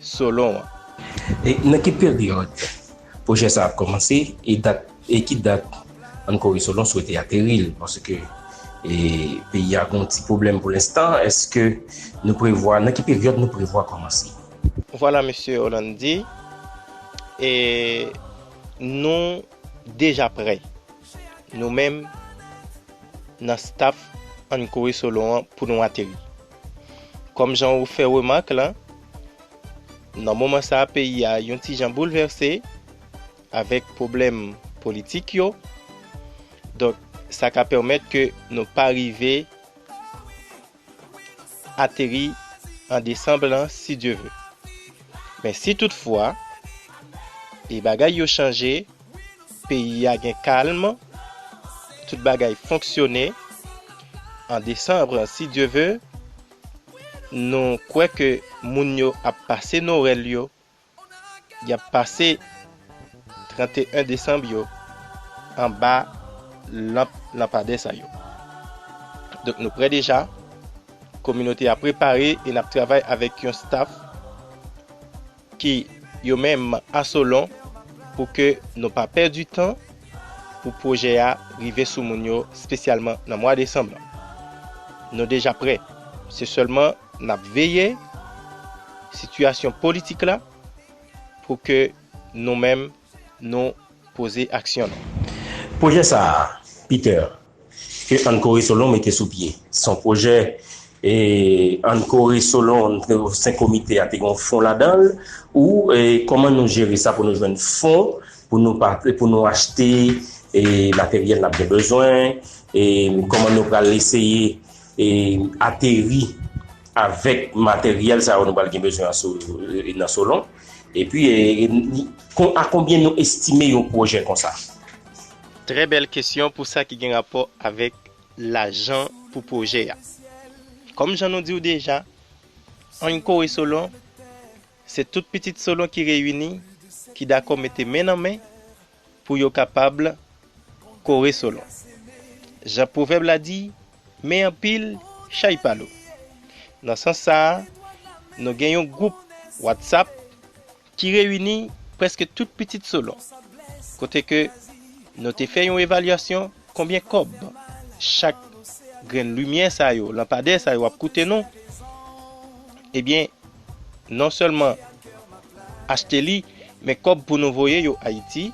Solon an. E nan ki peryòd pwojè sa ap kòmanse e dat e ki dat an Kore Solon swete ateri l paske e peyi a gon ti pwoblèm pou lenstan èske nou prevwa nan ki peryòd nou prevwa kòmanse? Vwala Mesye Orlandi e nou deja prè nou menm nan staff an Kore Solon an pou nou ateri. Kòm jan ou fè remak lan, nan moman sa peyi a yon ti jan boulvèse avèk pwoblèm politik yo, donk sa ka pèmèt ke nou pa rive ateri an desanm lan si Dye ve. Men si tout fwa e bagay yo chanje, peyi a gen kalm, tout bagay fonksyone, an desanm si Dye ve, nou kwè ke moun yo ap pase Nowèl yo, y ap pase 31 desanm yo anba lanp lanpadè sa yo. Donk nou prè deja, kominote a prepare e n ap travay avèk yon staf. ki yo menm a Solon pou ke nou pa pèdi tan pou pwojè a rive sou moun yo spesyalman nan mwa desanm lan. Nou deja prè, se sèlman nap veye sitiyasyon politik la pou ke nou menm nou poze aksyon nou. Pwojè sa a, Peter, ke Ann Kore Solon mete sou pye, se yon pwojè Ann Kore Solon, sen komite a te gen yon fon ladan l, ou kòman nou jere sa pou nou jwenn fon pou nou achte materyèl n ap gen bezwen, kòman nou pral eseye ateri avèk materyèl sa yo nou pral gen bezwen nan Solon. E pi a konbyen nou estime yon pwojè konsa? Trè bèl kesyon pou sa ki gen rapò avèk lajan pou pwojè a. Kòm jan nou di w deja, anyn kore Solon, se tout pitit Solon ki reyini, ki dakò mete men nan men pou yo kapab kore solon. Jan pwovèb la di, Men anpil chay pa lou. Nan sans sa a, nou gen yon gwoup Whatsapp ki reyini prèske tout pitit solon, kote ke nou te fè yon evalyasyon konbyen kòb chak grenn limyè sa yo, lanpadè sa yo ap koute nou, ebyen non sèlman achte li men kòb pou nou voye yo ayiti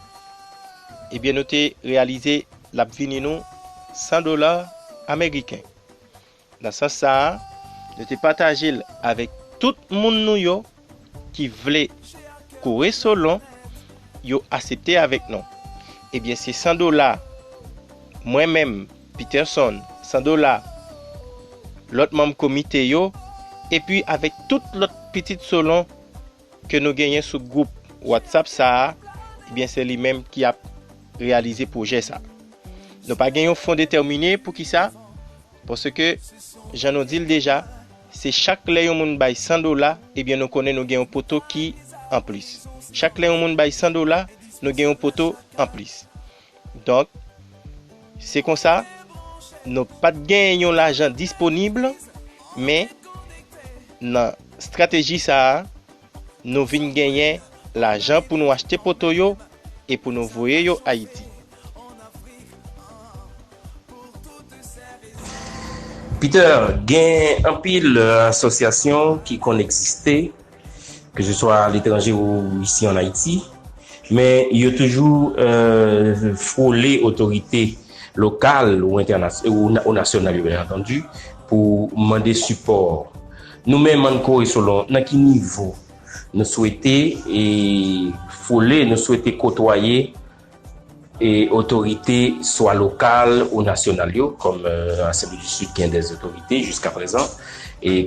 ebyen nou te reyalize lap vini nou 100 dola ameriken nan sans sa a nou te pataje l avèk tout moun nou yo ki vle kore solon yo asepte avèk nou ebyen se 100 dola mwen menm Peterson, Sandola, lòt manm komite yo, epi avèk tout lòt pitit Solon ke nou genyen sou gwoup Whatsapp sa a, ebyen se li menm ki ap reyalize pwojè sa. Nou pa gen yon fon detèmine pou ki sa, paske jan nou di l deja, se chak lè yon moun bay 100 dola, ebyen nou konnen nou gen yon poto ki anplis. Chak lè yon moun bay 100 dola, nou gen yon poto anplis. Donk, se konsa, nou pa t gen yon lajan disponib, men, nan estrateji sa a, nou vin genyen lajan pou nou achte poto yo e pou nou voye yo Ayiti. Peter, Gen anpil asosyasyon ki konn egziste. ke se swa a letranje ou isi an Ayiti, men yo toujou fwole otorite lokal ou nasyonal yo byen antandi pou mande sipò. Nou menm an Kore Solon, nan ki nivo nou swete fwole, nou swete kotwaye? Otorite swa lokal ou nasyonal yo, kòm Asanble di Sid gen de otorite jiska prezan,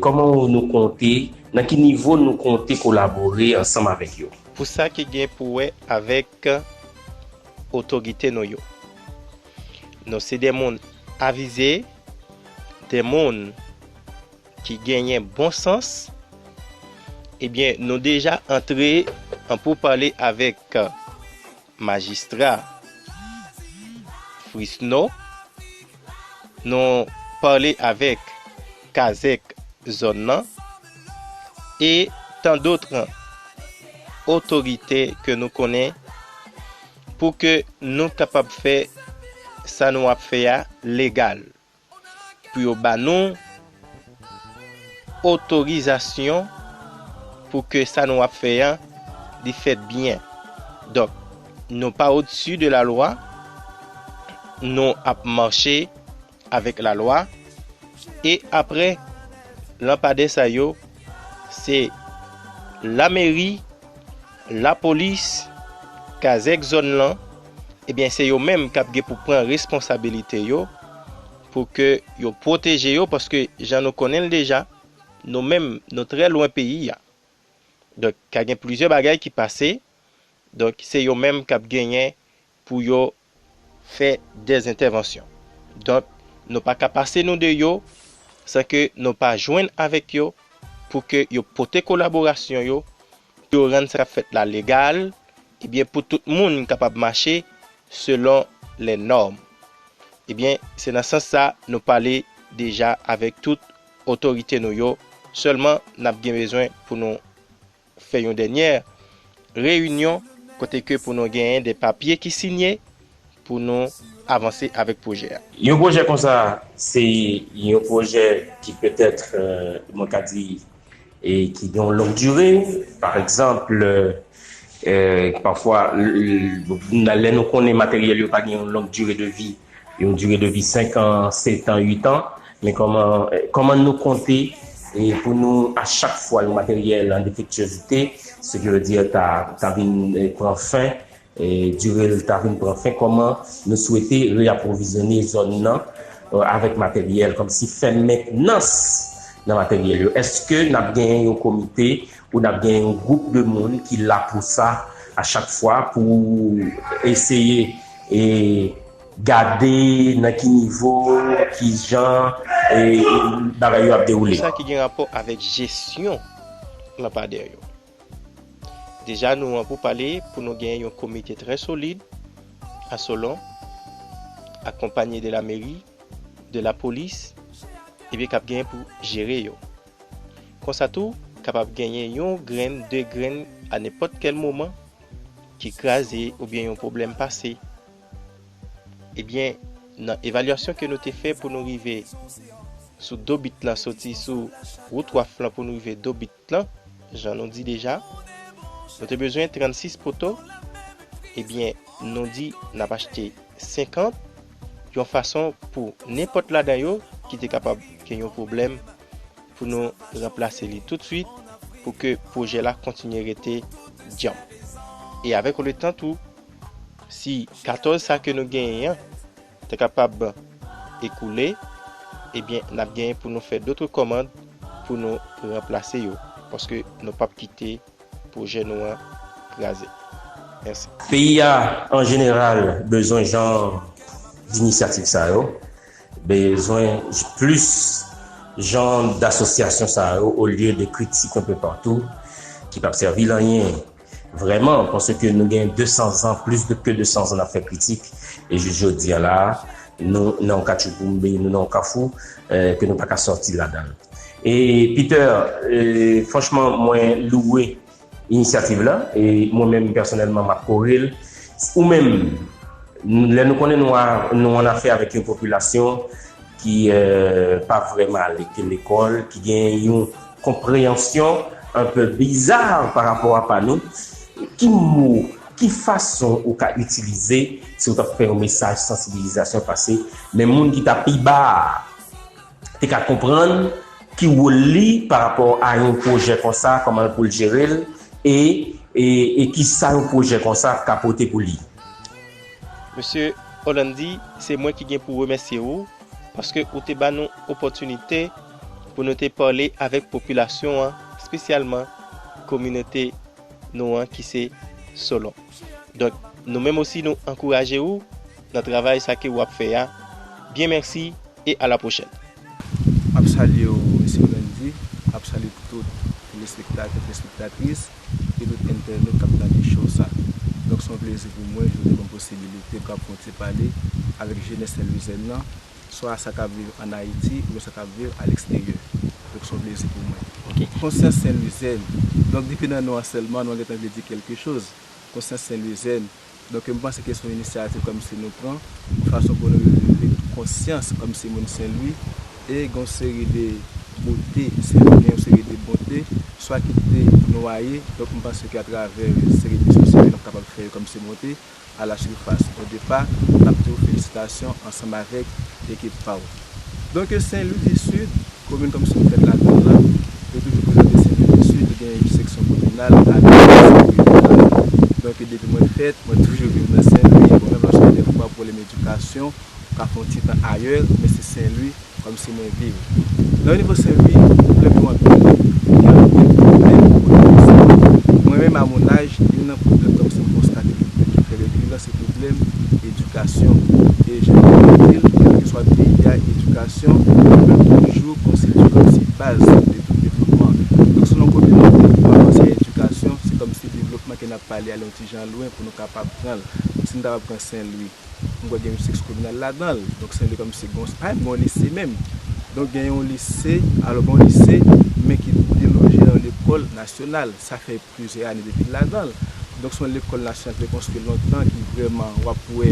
kòman nou konte, nan ki nivo nou konte kolabore ansanm avèk yo? Pou sa ki gen pou wè avèk otorite nou yo, nou se de moun avize, de moun ki genyen bon sans, ebyen nou deja antre an pou pale avèk majistra Frisno, nou pale avèk kazèk zòn nan, e tan dotre otorite ke nou konnen pou ke nou kapab fè sa nou ap fè a legal. Pou yo ba nou otorizasyon pou ke sa nou ap fè an li fèt byen. Donk, nou pa odsi de la lwa, nou ap mache avèk la lwa, e apre lanpadè sa yo, se lameri, Lapolis, kazèk zòn lan, ebyen se yo menm k ap gen pou pran responsabilite yo pou ke yo pwoteje yo paske jan nou konnen l deja, nou menm nou trè lwen peyi a. Donk ka gen plizyè bagay ki pase, donk se yo menm k ap genyen pou yo fè dè entèvansyon. Donk, nou pa ka pase nou de yo san ke nou pa jwenn avèk yo pou ke yo pote kolaborasyon yo pou yo rann sa k ap fèt la legal ebyen pou tout moun kapab mache selon lè nòm. Ebyen, se nan sans sa nou pale deja avèk tout otorite nou yo, sèlman n ap gen bezwen pou nou. fè yon dènyè reyinyon kote ke pou nou genyen de papye ki sinye pou nou avanse avèk pwojè a. Yon pwojè konsa se yon pwojè ki petèt mwen ka di ki gen yon long dire, pa egzanp pafwa lè nou konnen materyèl yo pa gen yon long dire de vi, Yon dire de vi 5 an, 7 an, 8 an, men kòman kòman nou konte pou nou a chak fwa yon materyèl an defektyozite, se ki vle di ta ta vin pran fen, dire l ta vin pran fen, kòman nou swete reapwovizyone zòn nan avèk materyèl, kòmsi fè mentnans nan materyèl yo? Èske n ap genyen yon komite Pou n ap gen yon gwoup de moun ki la pou sa a chak fwa pou eseye gade nan ki nivo, ki jan bagay yo ap dewoule. Kisa ki gen rapò avèk jesyon lanpadè yo? Deja nou an pou pale pou nou gen yon komite trè solid a Solon, akonpanye de lameri, de lapolis, epi k ap gen pou jere yo. Konsa tou, kapab genyen yon grenn, de grenn a nenpòt kèl moman ki kraze oubyen yon pwoblèm pase. Ebyen, nan evalyasyon ke nou te fè pou nou rive sou do bit lan, soti sou wout waf lan pou nou rive do bit lan, jan nou di deja, nou te bezwen 36 poto, ebyen nou di nap achte 50. yon fason pou nenpòt ladan yo ki te kapab gen yon pwoblèm pou nou ranplase li toutswit pou ke pwojè la kontinye rete djanm. E avèk yon letan tou, si 14 sa ke nou genyen an ta kapab ekoule, ebyen n ap genyen pou nou fè dotre kòmand pou nou ranplase yo, paske nou p ap kite. pwojè nou an kraze. Mèsi. Peyi a an jeneral bezwen jan dinisyativ sa yo, bezwen plis jan dasosyasyon sa yo olye de kritik anpe patou ki pap sèvil anyen vrèman paske nou gen 200 zan plis de ke 200 zan nap fè kritik e jis jodi a la nou nan yon katchouboumbe nou nan yon kafou ke nou paka sòti ladann. E Peter franchman mwen louwe inisyativ la e mwen menm pèsonèlman map kore l ou menm lè nou konnen nou an afè avèk yon popilasyon ki pa vrèman al lekòl ki gen yon konpreyansyon anpe biza pa rapò a pa nou ki mo ki fason ou ka itilize si ou t ap fè yon mesaj sansibilizasyon pase men moun ki ta pi ba a. te ka konprann ki wol li pa rapò a yon pwojè konsa kòman pou l jere l e e kisa yon pwojè konsa ka pote pou li. Mesye Orlandy se mwen ki gen pou remèsye ou paske ou te ba nou opòtinite pou nou te pale avèk popilasyon an spesyalman kominote nou an ki se Solon donk nou menm osi nou ankouraje ou nan travay sa ke ou ap fè a byen mèsi e a la pwochèn. Map salye w mesye Randy, map salye tout telespektatè, telespektatris e tout entènot kap gade show sa. Donk son plezi pou mwen ke w te banm posibilite pou kap fon ti pale avèk jenès senlwizyen nan, swa sa kap viv an Ayiti oubyen sa kap viv a leksteryè. Donk son plezi pou mwen. Konsyans senlwizyen, donk depi nan non an sèlman non an gentan vle di kelke choz. Konsyans senlwizyen. Donk m panse ke se yon inisyativ kòmsi nou pran, yon fason pou nou revele konsyans kòmsi moun Senlwi, e gen yon seri de bote, Senlwi gen yon seri de bonte, swa ki te nwaye, donk m panse ke atravè yon seri de diskusyon ke n ap kapab fè yo kòmsi monte a la surface. Odepa, m ap di ou felisitasyon ansanm avèk ekip pa ou. Donk yo Sen Lwi di Sid, komin Thompson fèt ladan l lan, yo toujou prezante Sen Lwi di Sid, li gen yon seksyon kominal ak yon seksyon rejyonal. Donk depi mwen fèt, mwen toujou viv nan Sen Lwi, bon menm lòske gen dèfwa pwoblèm edikasyon, ou ka fè yon ti tan ayè, men se Sen Lwi kòm si mwen viv. Nan yon nivo Sen Lwi, pwoblèm yo anpil, men gen anpil pwoblèm kote Thompson. Mwen menm a mon âge, youn nan pwoblèm Thompson konstate ki fè rekiran, Se pwoblèm edikasyon. E jan nou konn di l, kèlkeswa peyi a, edikasyon ap toujou konstitye kòmsi baz de tout devlopman. Donk selon kote nou te pou avanse a edikasyon, se kòmsi devlopman ke n ap pale a li yon ti jan lwen pou nou kapab pran l. Si nou ta pral pran Senlwi, m kwè gen yon sèks kominal ladan l. Donk Senlwi kòmsi gen yon, pa menm gen yon lise menm. Donk gen yon lise, alò gen yon lise men ki deloje nan yon lekòl nasyonal. Sa fè. Plizyè ane depi l ladan l. Donk se yon lekòl nasyon te konstwi lontan ki vrèman w ap wè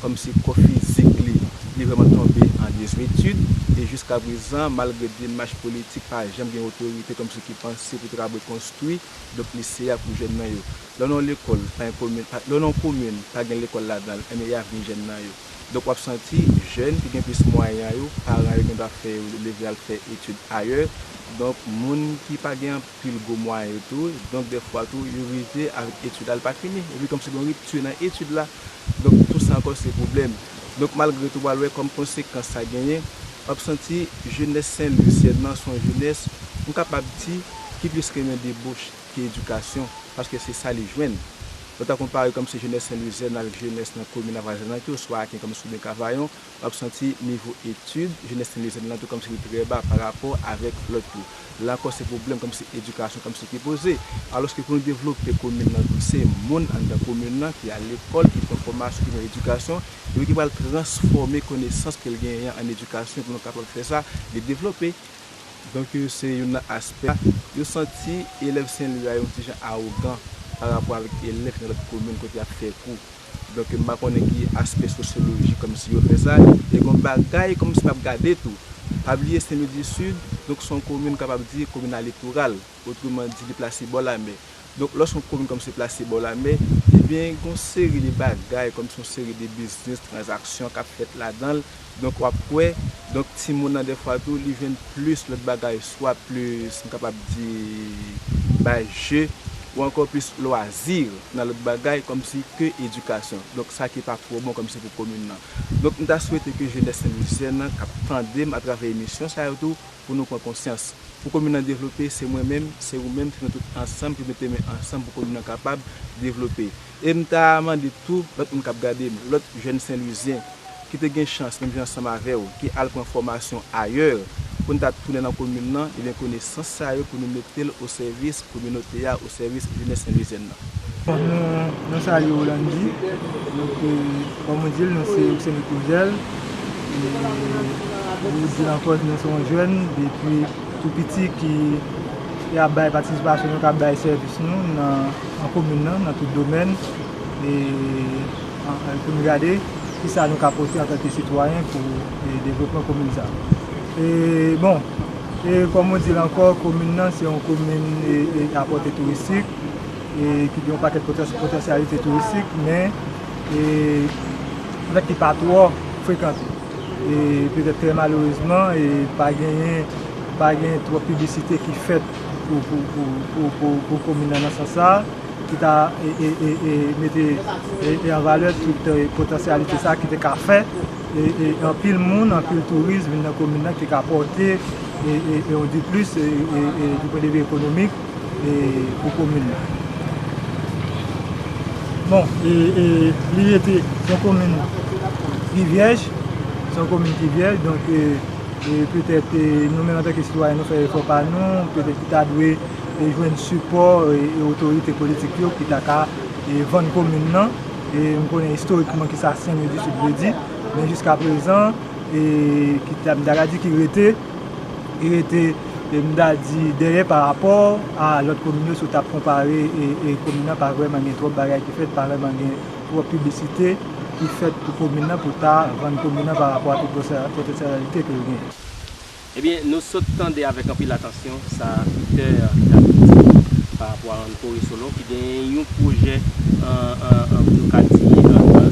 kòmsi kò fizik li, li vrèman tonbe an dezwitid. E jiska prezan malgre demach politik pa janm gen otorite kòmsi ki panse pou trabwe konstwi donk lise a pou jèn nan yo. Lè w nan yon lekòl pa yon komin, lè w nan yon komin pa gen lekòl ladan l enben y avni jèn nan yo. Donk w ap santi jèn ki gen plis mwayan yo paran yo gen dwa fè yo leve al fè etid ayè. Donk moun ki pa gen. pil gwo mwayen yo tou, donk dè fwa tou yo rive avèk etid la li pa fini, epi kòm se gon ripti nan etid la, donk tou sa ankò se pwoblèm. Donk malgre tou pral wè kòm konsekans sa genyen, w ap santi jenès Sen Lwisyenn nan se yon jenès m kapab di ki plis renmen debouche ke edikasyon, paske se sa li jwenn. Nou ta konpare kòm se jenès Sen Lwisyenn avèk jenès nan komin Avwazan an ki oswa Aken kòm se oubyen Kavayon, w ap santi nivo etid jenès Sentlizèn lan tou kòmsi li trè ba pa rapò avèk lòt yo. La ankò se pwoblèm kòmsi edikasyon kòmsi ki poze. Alòske pou nou devlope komin lan tou se moun anndan komin lan ki al lekòl, ki pran fòmasyon, ki pran edikasyon epi ki pral transfòme konesans ke l genyen an ann edikasyon pou nou kapab fè sa li devlope. Donk yo se youn nan aspè. Yo santi elèv Senlwi a yon ti jan awogan pa rapò avèk elèv ki nan lòt komin kote y ap fè kou. Donk m pa konnen ki aspè sosyoloji kòmsi yo fè sa. E gen yon bagay kòmsi m ap gade tou. Pa bliye Sen Lwi di Sid, donk se yon komin kap ap di komin alitoral. Otreman di li plase bò lamè. Donk lò se yon komin kòmsi plase bò lamè, ebyen gen yon seri de bagay kòmsi yon seri de biznis, tranzaksyon kap fèt ladan l Donk wap kwè, donk timoun nan dèfwa tou li jwenn plis lòt bagay swa plis m kapab di bay je ou ankò plis lwazi nan lòt bagay kòmsi ke edikasyon. Donk sa ki pa twò bon kòmsi pou komin nan. Donk m ta swete ke jenès Senlwisyen nan kap tande m atravè emisyon sa yo tou pou nou pran konsyans. Pou komin nan devlope se mwen menm, se ou menm, se nou tout ansanm ki mete men ansanm pou komin nan kapab devlope. E m ta mande tou lòt moun k ap gade m, lòt jèn Senlwizyen ki te gen chans menm jan ansanm avè w ki al pran fòmasyon ayè, pou n ta tounen nan komin lan, ebyen konesans sa yo pou nou mete l o sèvis kominote a, o sèvis jenès Senlwizyèn nan. Nou salye w Landy, nou ke kòm ou di l nou se ou se mikwo jèl e ou di l ankò nou se yon jèn depi tou piti ki E ap bay patisipasyon nou ka bay sèvis nou nan komin nan, nan tout domèn, e pou n gade ki sa nou ka pote antanke sitwayen pou devlopman komin sa. E bon, e kòm mwen di l ankò, komin nan se yon komin a pòte touristik, e ki gen yon pakèt potansyalite touristik, men, e, anfèt ki pa twò frekante. E petèt trè malerezman e pa genyen pa gen twòp piblisite ki fèt pou komin nan nan sans sa a ki ta e mete an valè tout potansyalite sa a ki te ka fè e anpil moun, anpil touris vin nan komin nan ki ka pòte e yon diplis e du pwen de vi ekonomik. e pou komin nan. Bon, e li rete yon komin ki vyèj, se yon komin ki vyèj, donk e petèt nou menm antanke sitwayen nou fè efò pa nou, petèt ki ta dwe jwenn sipò otorite politik yo ki ta ka vann komin nan, e m konnen istorikman ki sa Sen Lwi di Sid vle di, men jiskaprezan e ki ta m ta ka di ki rete. rete m ta di dèyè pa rapò a lòt komin yo si w t ap konpare e komin nan pa vrèman gen twòp bagay ki fèt pa vrèman gen twòp piblisite ki fèt pou komin nan pou ta vann komin nan pa rapò a tout potansyalite ke l genyen. Ebyen nou sot tande avèk anpil atansyon sa aktè a ta vle di pa rapò a Rann Kore Solo ki genyen yon pwojè pou nou ka di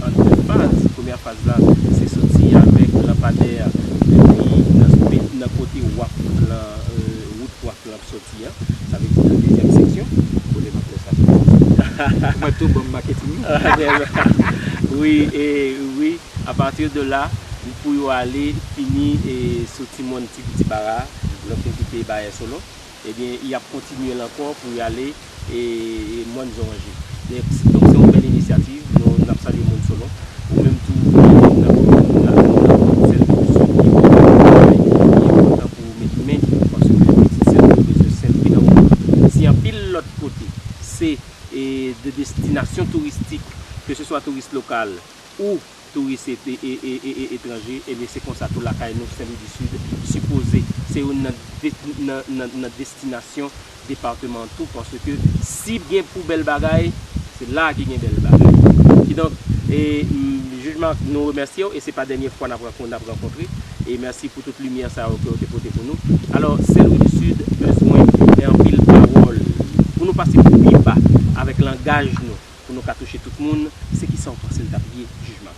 an 2 faz. Premyè faz la se soti avèk lanpadè a depi nan kote wak lan wout wak lan ap soti a sa vle di nan dezyèm seksyon. Kote map lè sa soti? Mwen tou banm maketing nan. Wi e wi. A partir de là, li pou yo ale fini e sou ti mòn ti piti bara a, lè yo fin kite Bayè Solo, ebyen y ap kontinye l ankò pou y ale e mòn Zoranje. Donk se yon bèl inisyativ, nou n ap salye moun Solo. Ou menm tou e n ap di moun nan moun nan pou yo sèvi pou sèl ki bon pou travay li e kontan pou yo met men paske pitit sèl yo bezwen sèl ki nan moun nan. Si anpil lòt kote se e de destinasyon touristik, ke se swa touris lokal ou touris et et etranje ebyen se konsa tou lakay nou Sen Lwi di Sid sipoze se youn nan nan nan destinasyon departeman tou paske si gen pou bèl bagay se la ki gen bèl bagay kidonk e jij Marc nou remèsyew e se pa dènye fwa nap rankon nap rankontre e mèsi pou tout limyè sa yo kew te pote pou nou alò Sen Lwi di Sid bezwen anpil pawòl pou nou pase pi ba avèk langaj nou. pou nou ka touche tout moun se kisa ou panse l tap ye jijman.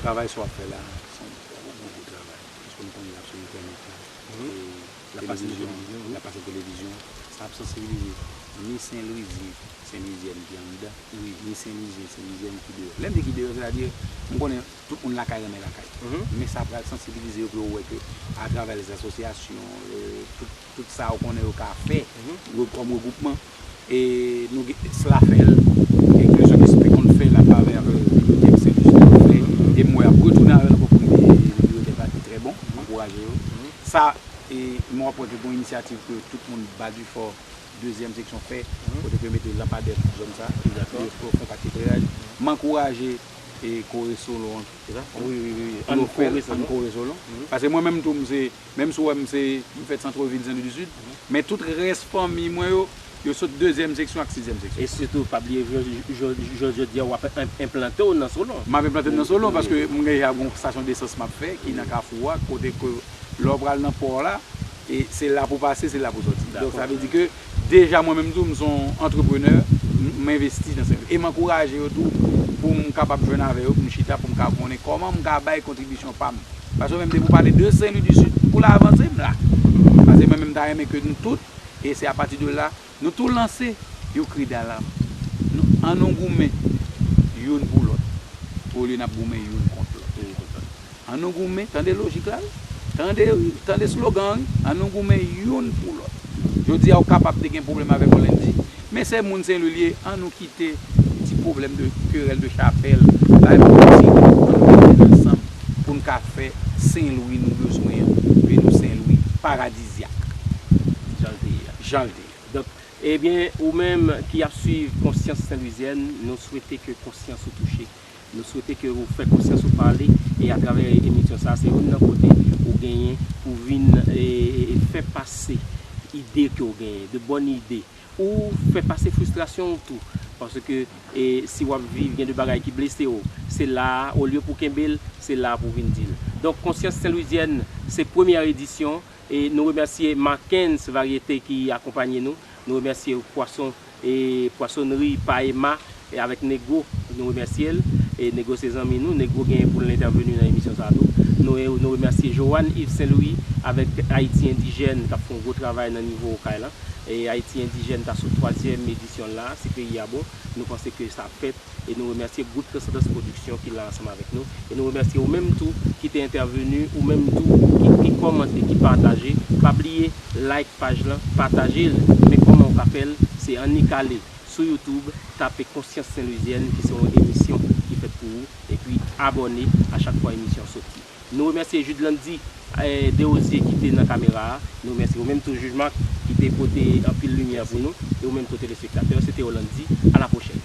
Travay sa wap fè la se yon bon gwo travay paske nou konnen lap sou entènèt la lap pase nan televizyon lap pase nan televizyon sa ap sansibilize ni senlwizyen senlwizyèn ki anndan ni senlwizyen senlwizyèn ki deyò lèm di ki deyò sètadi m konnen tout moun lakay renmen lakay men sa pral sansibilize yo pou yo wè ke atravè lèzasosyasyon tout sa ou konnen yo ka fè kòm regwoupman. E nou gen Esla fè l, e Klezon Esi te konn fè l atravè avè bibliyotèk Sen Jis te fè yo. E m wè y ap retounen avè l ankò pou ride bibliyotèk la ki trè bon. M ankouraje yo. Sa e m ap wè ke gon inisyativ ke tout moun Ba Difò dezyèm seksyon fè kote ke yo mete lanpadè pou zòn sa e pou yo fè yon pak ekleraj. M ankouraje e Kore Solon an tou. Wi wi wi, Ann Kore Solon. Paske mwen menm tou m se. Menm si w wè m se, m fèt santrevil Sen Lwi di Sid, men tout rès fanmi mwen yo, yo sot dezyèm seksyon ak sizyèm seksyon. E sitou pa bliye jounen jodi a w ap enplante w nan Solon. M ap enplante m nan Solon paske m deja gen yon stasyon desans m ap fè ki nan kafou a kote ke lè w pral nan pò la, se la pou w pase, se la pou w sòti. Donk sa vle di ke. Deja mwen menm tou m son entrepreneur m envesti nan sektè e m ankouraje yo tou pou m kapab jwenn avè yo pou m chita pou m ka konnen kòman m ka bay kontribisyon pa m paske mwen menm depi w pale de senlwi di sid pou la avanse m la paske mwen menm m ta renmen ke nou tout e se apati de la nou tou lanse yon kri dalam nou an nou goumen youn pou lòt olye n ap goumen youn kont lòt. An nou goumen, tande lojik la wi. Tande wi, tande slogan an wi. An nou goumen youn pou lòt. Jodi a ou kapab te gen pwoblèm avèk yon Lendy, men se moun Senlwi li ye, an nou kite ti pwoblèm de kerèl de chapèl, bay moun yo ti ri, an nou mete tèt ansanm pou n ka fè Senlwi nou bezwen an, pou nou Senlwi paradizyak. Jan l te ye a. Jan l te ye. Donk, ebyen ou menm ki ap swiv Konsyans Senlwizyèn, nou swete ke konsyans ou touche. Nou swete ke ou fè konsyans ou pale e atravè emisyon sa a se youn nan kote ou genyen pou vin fè pase ide ke ou genyen, de bòn ide. Ou fè pase fristrasyon ou tou, paske si wap viv gen de bagay ki blese ou, se la a olye pou kenbe l, se la a pou vin di l. Donk konsyans senlwizyèn se premyè edisyon. E nou remèsye Marckens Variété ki akonpanye nou. Nou remèsye pwason e pwasonnri Pa Emma avèk Negro. Nou remèsye l. E Negro se zanmi nou. Negro genyen pou l entèveni nan emisyon sa a tou. Nou remèsye Johanne Yves Saint Louis avèk Ayiti Endijèn k ap fè yon gwo travay nan nivo Okay lan. E Ayiti Endijèn ta sou twazyèm edisyon l la a. Si peyi a bon, nou panse ke sa ap fèt. E nou remèsye Gwoup Transandans Pwodiksyon ki la ansanm avèk nou. E nou remèsye ou menm tou ki te entèveni, ou menm tou ki ki kòmante, ki pataje. Pa bliye like paj lan, pataje l. Men kòman ou ka fè l, se annik ale sou YouTube, tape Konsyans Senlwizyèn ki se yon emisyon ki fèt pou ou, epi abòne a chak fwa emisyon soti. Nou remèsye Jude Landy Derosier ki te nan kamera a. Nou remèsye ou menm tou Jij Marc ki te pote anpil limyè pou nou e ou menm tou telespektatè yo. Se te yo Landy. A la pwochèn.